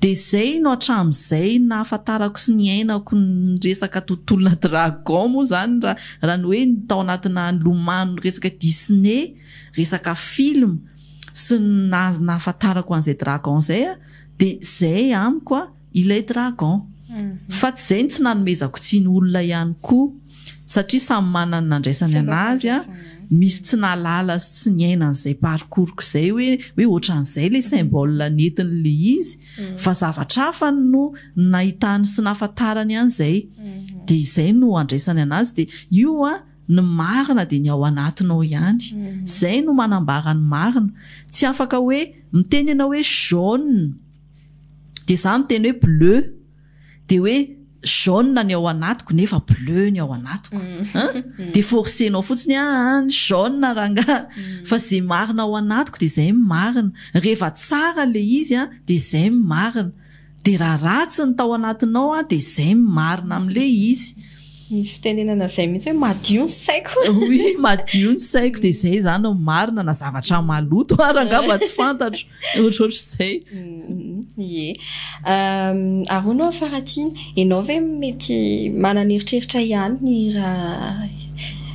Dia izay no hatramin'izay nahafantarako sy niainako ny resaka tontolona dragon moa izany raha raha ny hoe ny tao anatinà nilomano ny resaka Disney, resaka film sy ny naha- nahafantarako an'izay dragon izay dia izay amiko. Ilay dragon. Fa tsy izay ny tsy nanomezako tsiny olona ihany koa, satria samy manana ny nandraisany anazy an, misy tsy nahalala sy tsy niaina an'izay parcours-ko izay hoe hoe ohatran'izay ilay symbole nentiny le izy, fa zavatra hafa no nahitany sy nahafantarany an'izay. Dia izay no andraisany anazy dia io an, ny marina dia ny ao anatinao ihany. Izay no manambara ny marina. Tsy afaka hoe miteny ianao hoe jaune dia za miteny hoe bleu dia hoe jaune ny ao anatiko nefa bleu ny ao anatiko mm. dia forcenao fotsiny a ah, ny jaune rangaha mm. fa zay marina ao anatiko dia zay marina rehefa tsara le izy a dia zay marina dia raha ratsy ny tao anatinao a dia zay marina amle izy Misy fitenenana izay mihitsy hoe madio ny saiko. Oui, madio ny saiko dia izay izany no marina na zavatra maloto ary angamba tsy fantatro. Ohatrohatr'izay. Ie. Ary hono aho faratsiana, ianao ve mety manana eritreritra ihany ny hira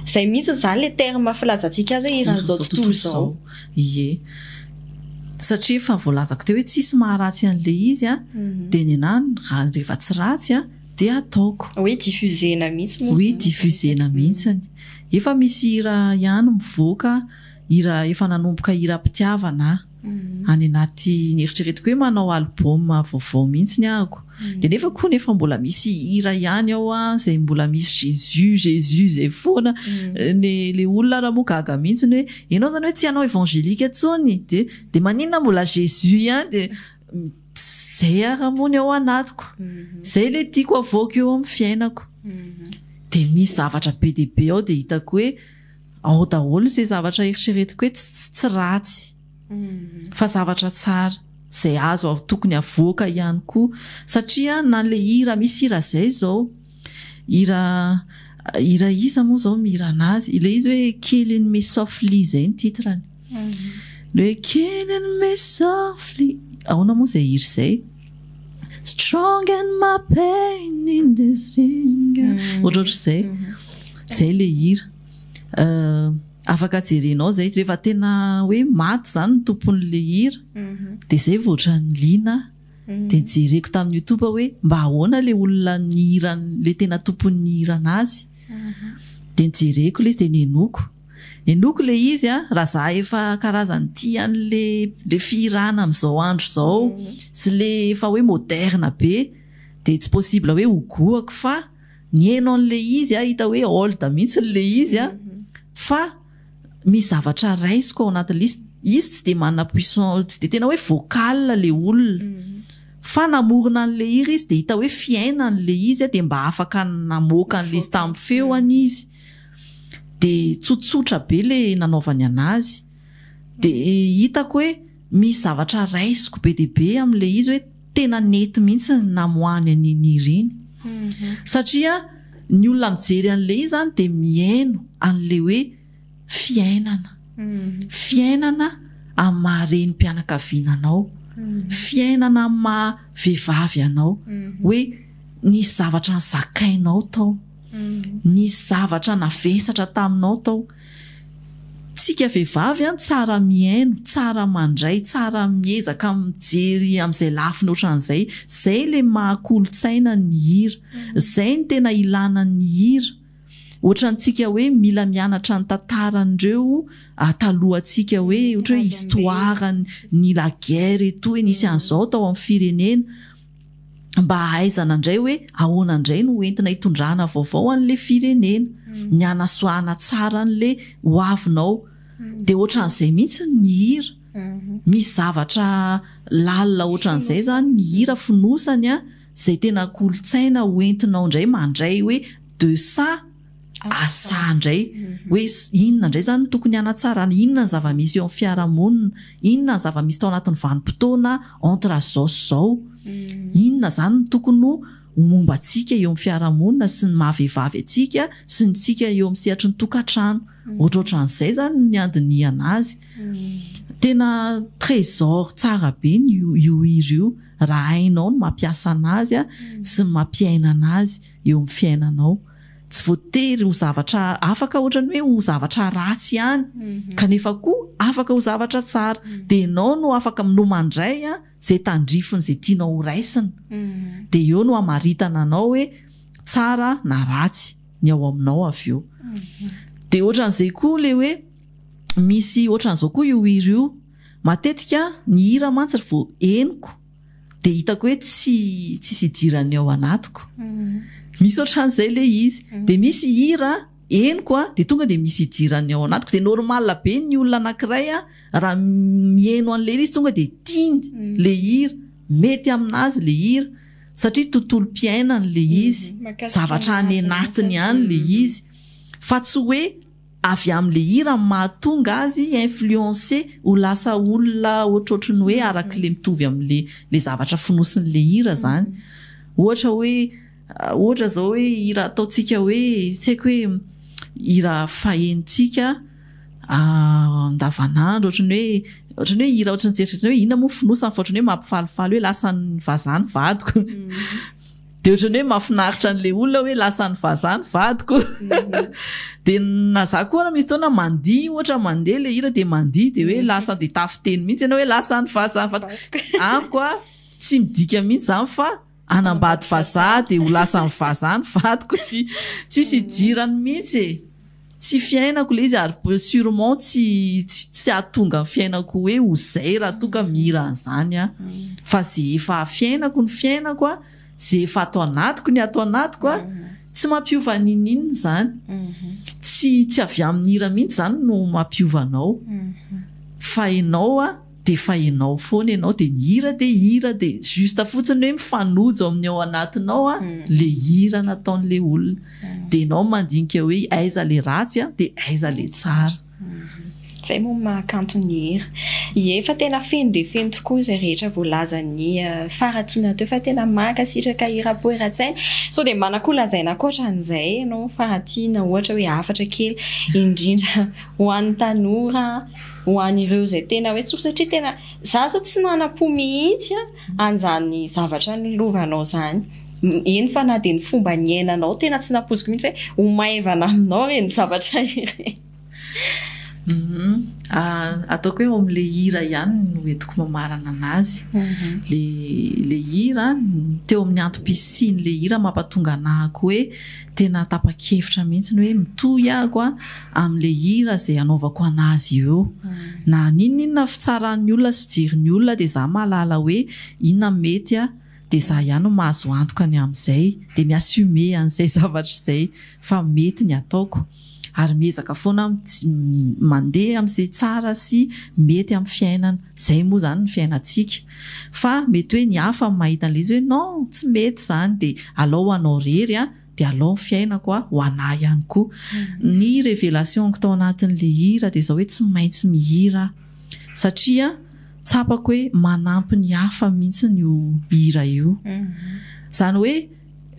izay mihitsy izany ilay terme filazantsika azy hoe hiran'izao tontolo izao? Ie. Satria efa voalazako teo hoe tsisy maharatsy an'ilay izy dia ny anah rehefa tsy ratsy, dia ataoko. Hoe diffusena mihitsy moa zany. Oui diffusena mihintsiny. Efa misy hira ihany mivoaka, hira efa nanomboka hiram-pitiavana aho. Any anaty neritreretiko hoe manao album vaovao mihintsiny ahako. Dia nefa koa nefa mbola misy hira ihany ao izay mbola misy Jésus, Jésus izay foana. Ny ilay olona ary moa gaga mihintsiny hoe ianao izany hoe tsy hanao evangelique intsony? Dia dia maninona mbola Jésus ihany? Dia. Zay ara moa ny ao anatiko. Zay le tiako avoaka eo amin'ny fiainako. Dia misy zavatra be dia be ao dia hitako hoe ao daholo izay zavatra eritreretiko hoe tsy ratsy fa zavatra tsara. Izay azo tokony avoaka ihany koa. Satria na le hira misy hira zay izao. Hira hira iza moa zao mihira anazy? Ilay izy hoe kely an'i me softly zay ny titre-ny. Ilay hoe kely an'i me softly ahoana moa zay hira zay? Strong and my pain in this ring ohatrohatr'izay. Zay le hira. Afaka jerenao zay rehefa tena hoe maty zany ny tompon'le hira dia zay vao ohatran'ny liana. dia jereko tamin'ny youtube hoe mba ahoana ilay olona nihira ilay tena tompony nihira anazy dia nijereko ilay izy dia nenoiko nenoiko ilay izy a raha za efa karazany tia an'ilay ilay fihirana amin'izao andro izao sy ilay efa hoe moderne be dia tsy possible hoe ho goako fa nihaino an'ilay izy a hita hoe old mihitsy ilay izy a fa misy zavatra raisiko ao anaty liste izy tsy dia manana puissance tsy dia tena hoe vocal le olona fa namorona an'le hira izy dia hita hoe fiaina an'le izy dia mba afaka namoaka an'le izy tamin'ny feo any izy dia tsotsotra be le nanaovany anazy dia hitako hoe Misy zavatra raisiko be dia be amin'ilay izy hoe tena nety mihitsy ny namoahany an'i Ninie ireny. Satria ny olona mijery an'ilay izy izany dia mihaino an'ilay hoe fiainana. Fiainana amin'ny maha renim-pianakaviana anao. Fiainana amin'ny maha vehivavy anao. Hoe nisy zavatra nozakainao tao. Nisy zavatra navesatra taminao tao. Tsika vehivavy an, tsara mihaino, tsara mandray, tsara miezaka mijery amin'izay lafiny ohatran'izay. Zay le maha kolontsaina ny hira. Zay ny tena ilana ny hira. Ohatrantsika hoe mila mianatra ny tantaran'ireo talohantsika hoe ohatra hoe histoire ny la guerre et tout hoe nisy an'izao tao amin'ny firenena. mba hahaizana indray hoe ahoana indray no hoentina hitondrana vaovao an'ilay firenena, ny hanasoahana tsara an'ilay hoavinao. Dia ohatran'izay mihitsy ny hira. Misy zavatra lalina ohatran'izay izany ny hira, fonosany izay tena kolontsaina hoentinao indray mandray hoe de ça. asa indray hoe inona indray izany no tokony hanatsarana, inona ny zava-misy eo amin'ny fiarahamonina, inona ny zava-misy tao anatin'ny vanim-potoana entre izao sy izao, inona izany no tokony ho momba antsika eo amin'ny fiarahamonina sy ny maha vehivavy antsika sy ny tsika eo amin'ny sehatry ny tokantrano. Ohatrohatran'izay izany ny handinihana azy. Tena trésor tsara be ny io hira io raha hainao ny mampiasa anazy sy ny mampiaina anazy. eo amin'ny fiainanao. Tsy voatery ho zavatra, afaka ohatrany hoe ho zavatra ratsy ihany, kanefa koa afaka ho zavatra tsara. Dia ianao no afaka no mandray izay tandrifiny izay tianao ho raisina. Dia eo no hamaritana anao hoe tsara na ratsy ny ao aminao avy eo. Dia ohatran'izay koa ilay hoe misy ohatran'izao koa io hira io, matetika ny hira mantsy ry vao henoko, dia hitako hoe tsy tsisy idiran'ny ao anatiko misy ohatran'izay le izy dia misy hira henoko a dia tonga dia misy idiran'ny ao anatiko dia normal be ny olona anankiray a raha miheno an'le hira izy tonga dia tiany le hira mety amin'azy le hira satria tontolom-piainany le izy zavatra any anatiny any le izy fa tsy hoe avy amin'le hira no mahatonga azy hi influencer ho lasa olona ohatrohatry ny hoe arak'le mitovy amin'le le zavatra fonosin'le hira zany ohatra hoe ohatra zao hoe hira ataontsika hoe tsy haiko hoe hira fahenontsika andavanandro ohatry ny hoe ohatry ny hoe hira ohatry ny tsy eritreretina hoe inona moa fonosany fa ohatry ny hoe mampifalifaly hoe lasan'ny vazaha ny vadiko Dia ohatran'ny hoe mahafinaritra an'ilay olona hoe lasan'ny vazaha ny vadiko. Dia na za koa misy fotoana mandihy ohatra mandeha ilay hira dia mandihy dia hoe lasa dia tafiteny mihitsy ianao hoe lasan'ny vazaha ny vadiko. Amiko a tsy midika mihitsy izany fa hanambady vazaha dia ho lasan'ny vazaha ny vadiko tsy tsisy idirany mihitsy e. Tsy fiainako ilay izy ary sûrement tsy tsy tsy hahatonga ny fiainako hoe ho izay raha toa ka mihira an'izany aho. Fa izay efa fiainako ny fiainako, izay efa ato anatiko ny ato anatiko, tsy mampiova n'inon'inona izany. Tsy tsy avy amin'ny hira mihitsy izany no mampiova anao fa ianao. dia efa ianao foana ianao dia ny hira dia hira dia juste fotsiny hoe mifanojo amin'ny ao anatinao a le hira nataon'le olona dia ianao mandinika hoe aiza le ratsy a dia aiza le tsara Izay moa no mahakanto ny hira. Ie, fa tena feno dia feno tokoa izay rehetra voalazan'i Faratiana teo fa tena mankasitraka i Rapoeratsaina. Sao dia manana koa lazaina ankoatran'izay ianao Faratiana ohatra hoe hafatra kely indrindra ho an'ny tanora ho an'ireo izay tena hoe tsory satria tena za zao tsy manam-po mihitsy an'izany zavatra nilovanao izany eny fa na dia ny fomba niainanao tena tsy nampoiziko mihitsy hoe ho maivana aminao ireny zavatra ireny ataoko hoe ao amin'ilay hira ihany no entiko mamarana anazy le le hira teo amin'ny antom-pisian'ilay hira mampatonga anahako hoe Tena tapa-kevitra mihitsy ny hoe mitohy aho amin'ilay hira izay hanaovako an'azy eo eo. Na haninon'inona fitsaran'ny olona sy fijerin'ny olona dia izaho mahalala hoe inona no mety dia izaho ihany no mahazo antoka ny amin'izay dia mi-assumer an'izay zavatra izay fa mety ny ataoko. ary miezaka foana aho tsy mandeha amin'izay tsara sy mety amin'ny fiainana, izay moa izany ny fiainantsika fa mety hoe ny hafa mahita an'ilay izy hoe non tsy mety izany dia alao ho anao irery an, dia alao ny fiainako an, ho anà ihany koa. Ny révélation-ko tao anatin'ilay hira dia izao hoe tsy maintsy mihira aho satria tsapako hoe manampy ny hafa mihitsy io hira io, izany hoe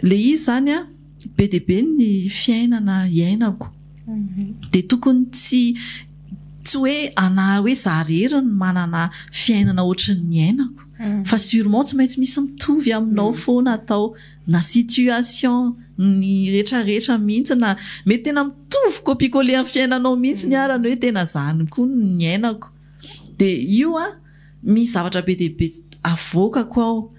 ilay izy izany an, be dia be ny fiainana iainako dia tokony tsy tsy hoe anahy hoe za rery ny manana fiainana ohatry ny iainako mm. fa sûrement tsy maintsy misy mitovy aminao mm. foana atao na situation ny retraretra mihitsy na mety tena mitovy kopikole amin'ny fiainanao mihitsy ny mm. arany hoe tena zany koa ny iainako dia io a Misy zavatra be dia be avoakako ao.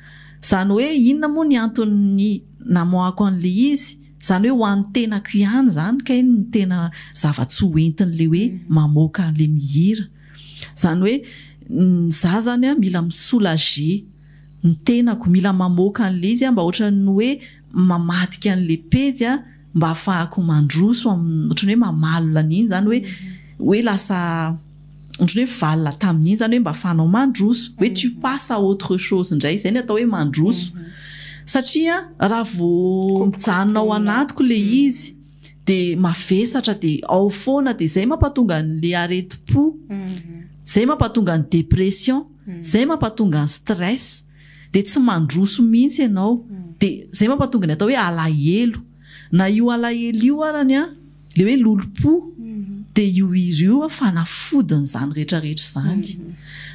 Izany hoe inona moa ny anton'ny namoahako an'ilay izy? Izany hoe ho an'ny tenako ihany izany kay no tena zava-tsy ho entin'ilay hoe mamoaka an'ilay mihira. Izany hoe izaho izany mila mi-soulager ny tenako, mila mamoaka an'ilay izy aho mba ohatran'ny hoe mamadika an'ilay pejy aho. mba hahafahako mandroso amin'ny ohatran'ny hoe mamalona an'iny zany hoe hoe lasa ohatran'ny hoe valona tamin'iny zany hoe mba hahafahanao mandroso hoe tu passes à autre chose indray izay ny atao hoe mandroso satria raha vao mijanona ao anatiko le izy dia mavesatra dia ao foana dia izay mampatonga an'le aretim-po izay mampatonga ny dépression izay mampatonga ny stress dia tsy mandroso mihitsy ianao dia izay mampatonga ny atao hoe alahelo na io alahelo io arany an le hoe lolompo dia io hira io an fanafodiny izany rehetra rehetra izany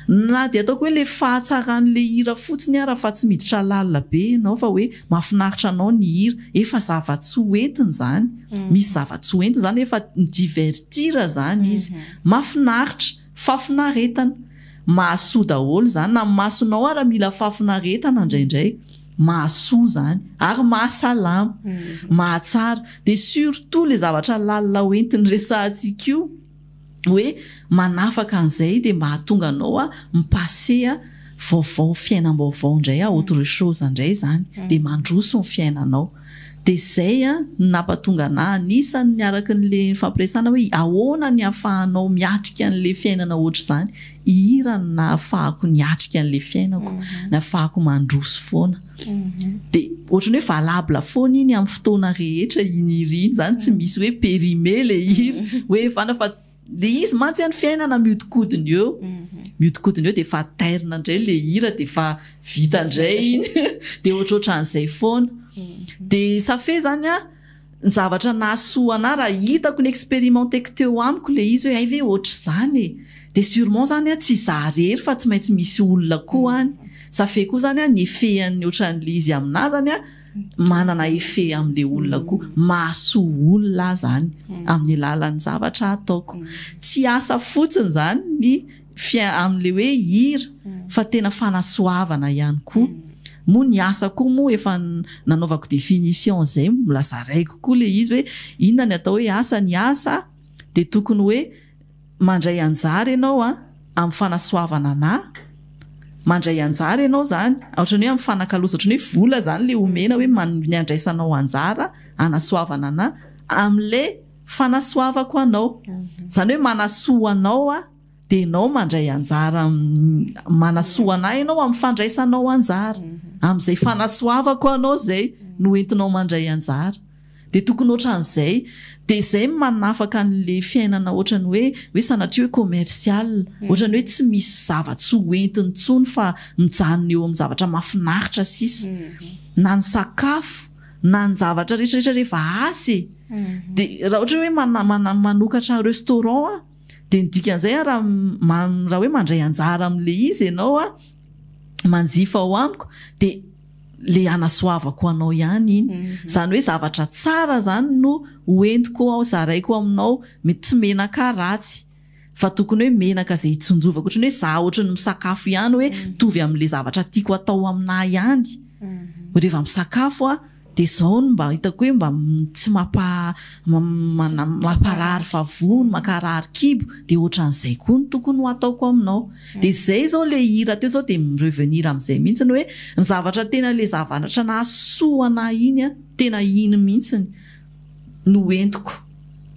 na dia ataoko hoe le fahatsaran'le hira fotsiny ara fa tsy miditra lalina be ianao fa hoe mahafinaritra anao ny hira efa zava-tsy ho entiny izany misy zava-tsy ho entiny izany efa mi divertir izany izy mahafinaritra Fafinaretana. Mahasoa daholo zany na masonao ara mila fafinaretana ndraindray. Mahasoa zany. Ary mahasalama. Mahatsara. Dia surtout le zavatra lalina ho entiny resahantsika io hoe manafaka an'izay dia mba hahatonga anao a mi-passer vaovao fiainam-baovao indray a autre chose indray zany. Dia mandroso ny fiainanao. dia izay no nampatonga anah hanisa ny araka an'ilay nifampiresahana hoe ahoana ny ahafahanao miatrika an'ilay fiainana ohatr'izany, hihira no nahafahako niatrika an'ilay fiainako, nahafahako mandroso foana. Dia ohatran'ny hoe valable foana iny amin'ny fotoana rehetra iny hira iny, izany tsy misy hoe périmé ilay hira hoe fana fa Le izy mantsy any fiainana miodikodina eo miodikodina eo dia efa tairina indray le hira dia efa vita indray iny dia ohatrohatran'izay foana dia safe zany a ny zavatra nahasoa anahy raha hitako ny experimenteko teo amiko le izy hoe hay ve ohatr'izany e dia surement zany a tsy za rery fa tsy maintsy misy olona koa any safe koa zany a ny effet an'ny ohatran'le izy aminah zany a manana effet amle olona koa mahasoa olona aho zany amin'ny alalan'ny zavatra ataoko tsy asa fotsiny zany ny fiain amle hoe hira fa tena fanasoavana ihany koa moa ny asa koa moa efa nanaovako definition zay mbola zaraiko koa le izy hoe inona ny atao hoe asa ny asa de tokony hoe Mandray anjara ianao an, amin'ny fanasoavana anà. Mandray anjara ianao izany, ohatran'ny hoe mifanakalozana, ohatran'ny hoe vola izany ilay omena hoe ny andraisanao anjara hanasoavana anà, amin'ilay fanasoavako anao. Izany hoe manasoa anao aho, dia ianao mandray anjara amin'ny, manasoa anà ianao amin'ny fandraisanao anjara. Amin'izay fanasoavako anao izay no entinao mandray anjara. Dia tokony ohatran'izay. Dia izay no manafaka an'ilay fiainana ohatran'ny hoe hoe sanatria hoe commercial. Ohatran'ny hoe tsy misy zava-tsoa ho entiny intsony fa mijanona eo amin'ny zavatra mahafinaritra sisa. Na ny sakafo, na ny zavatra rehetrarehetra rehefa asa e. Dia raha ohatra hoe mana- mana- manokatra restaurant aho dia ny dikan'izay aho raha ma- raha hoe mandray anjara amin'ilay izy ianao aho, manjifa ao amiko dia. le anasoavako anao ihany iny zany hoe zavatra tsara zany no hoentiko ao zaraiko aminao mety tsy menaka ratsy fa tokony hoe menaka zay hitsinjovako ohatran'ny hoe za ohatran'ny misakafo ihany hoe mitovy amin'le zavatra tiako atao aminah ihany reva misakafo aho de zao no mba hitako hoe mba tsy mampa- mamparary vavony mankarary kibo de ohatran'izay koa no tokony ho ataoko aminao Dia zay zao le hira teo zao dia mi-revenir amizay mihitsy ny hoe ny zavatra tena le zavanatra nahasoa anah iny an, tena iny mihitsy no entiko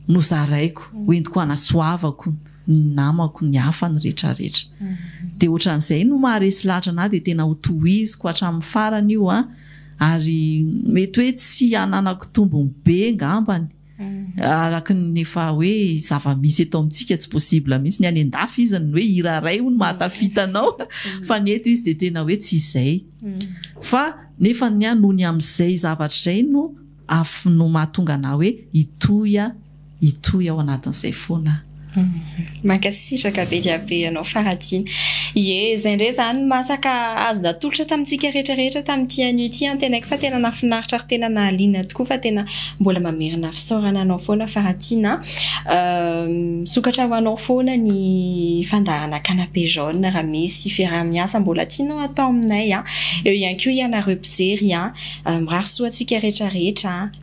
nozaraiko, entiko anasoavako ny namako, ny hafa, ny rehetra rehetra. Dia otran'izay no maharesy lahatra anah dia tena ho tohiziko hatramin'ny farany io an, ary mety hoe tsy hananako tombony be ngambany. araka ny efa hoe zava-misy eto amintsika tsy possible mihitsy, ny any an-dafy izy ny hoe hira iray hono mahatafita anao fa ny eto izy dia tena hoe tsy izay fa nefa ny ahy noho ny amin'izay zavatra izay no mahatonga anah hoe hitohy hitohy ao anatin'izay foana aho. Mankasitraka be dia be anao Faradina. Ie, izay indray izany masaka azo natolotra tamintsika rehetra rehetra tamin'ity anio ity an, tenaiky fa tena nahafinaritra ary tena nahaliana tokoa fa tena mbola mamerina fisaorana anao foana Faratiana an, misokatra ho anao foana ny fandaharana canapé jaune raha misy fiaraha-miasa mbola tianao hatao aminay an, eo ihany koa ianareo mpijery an, mirary soa antsika rehetra rehetra an.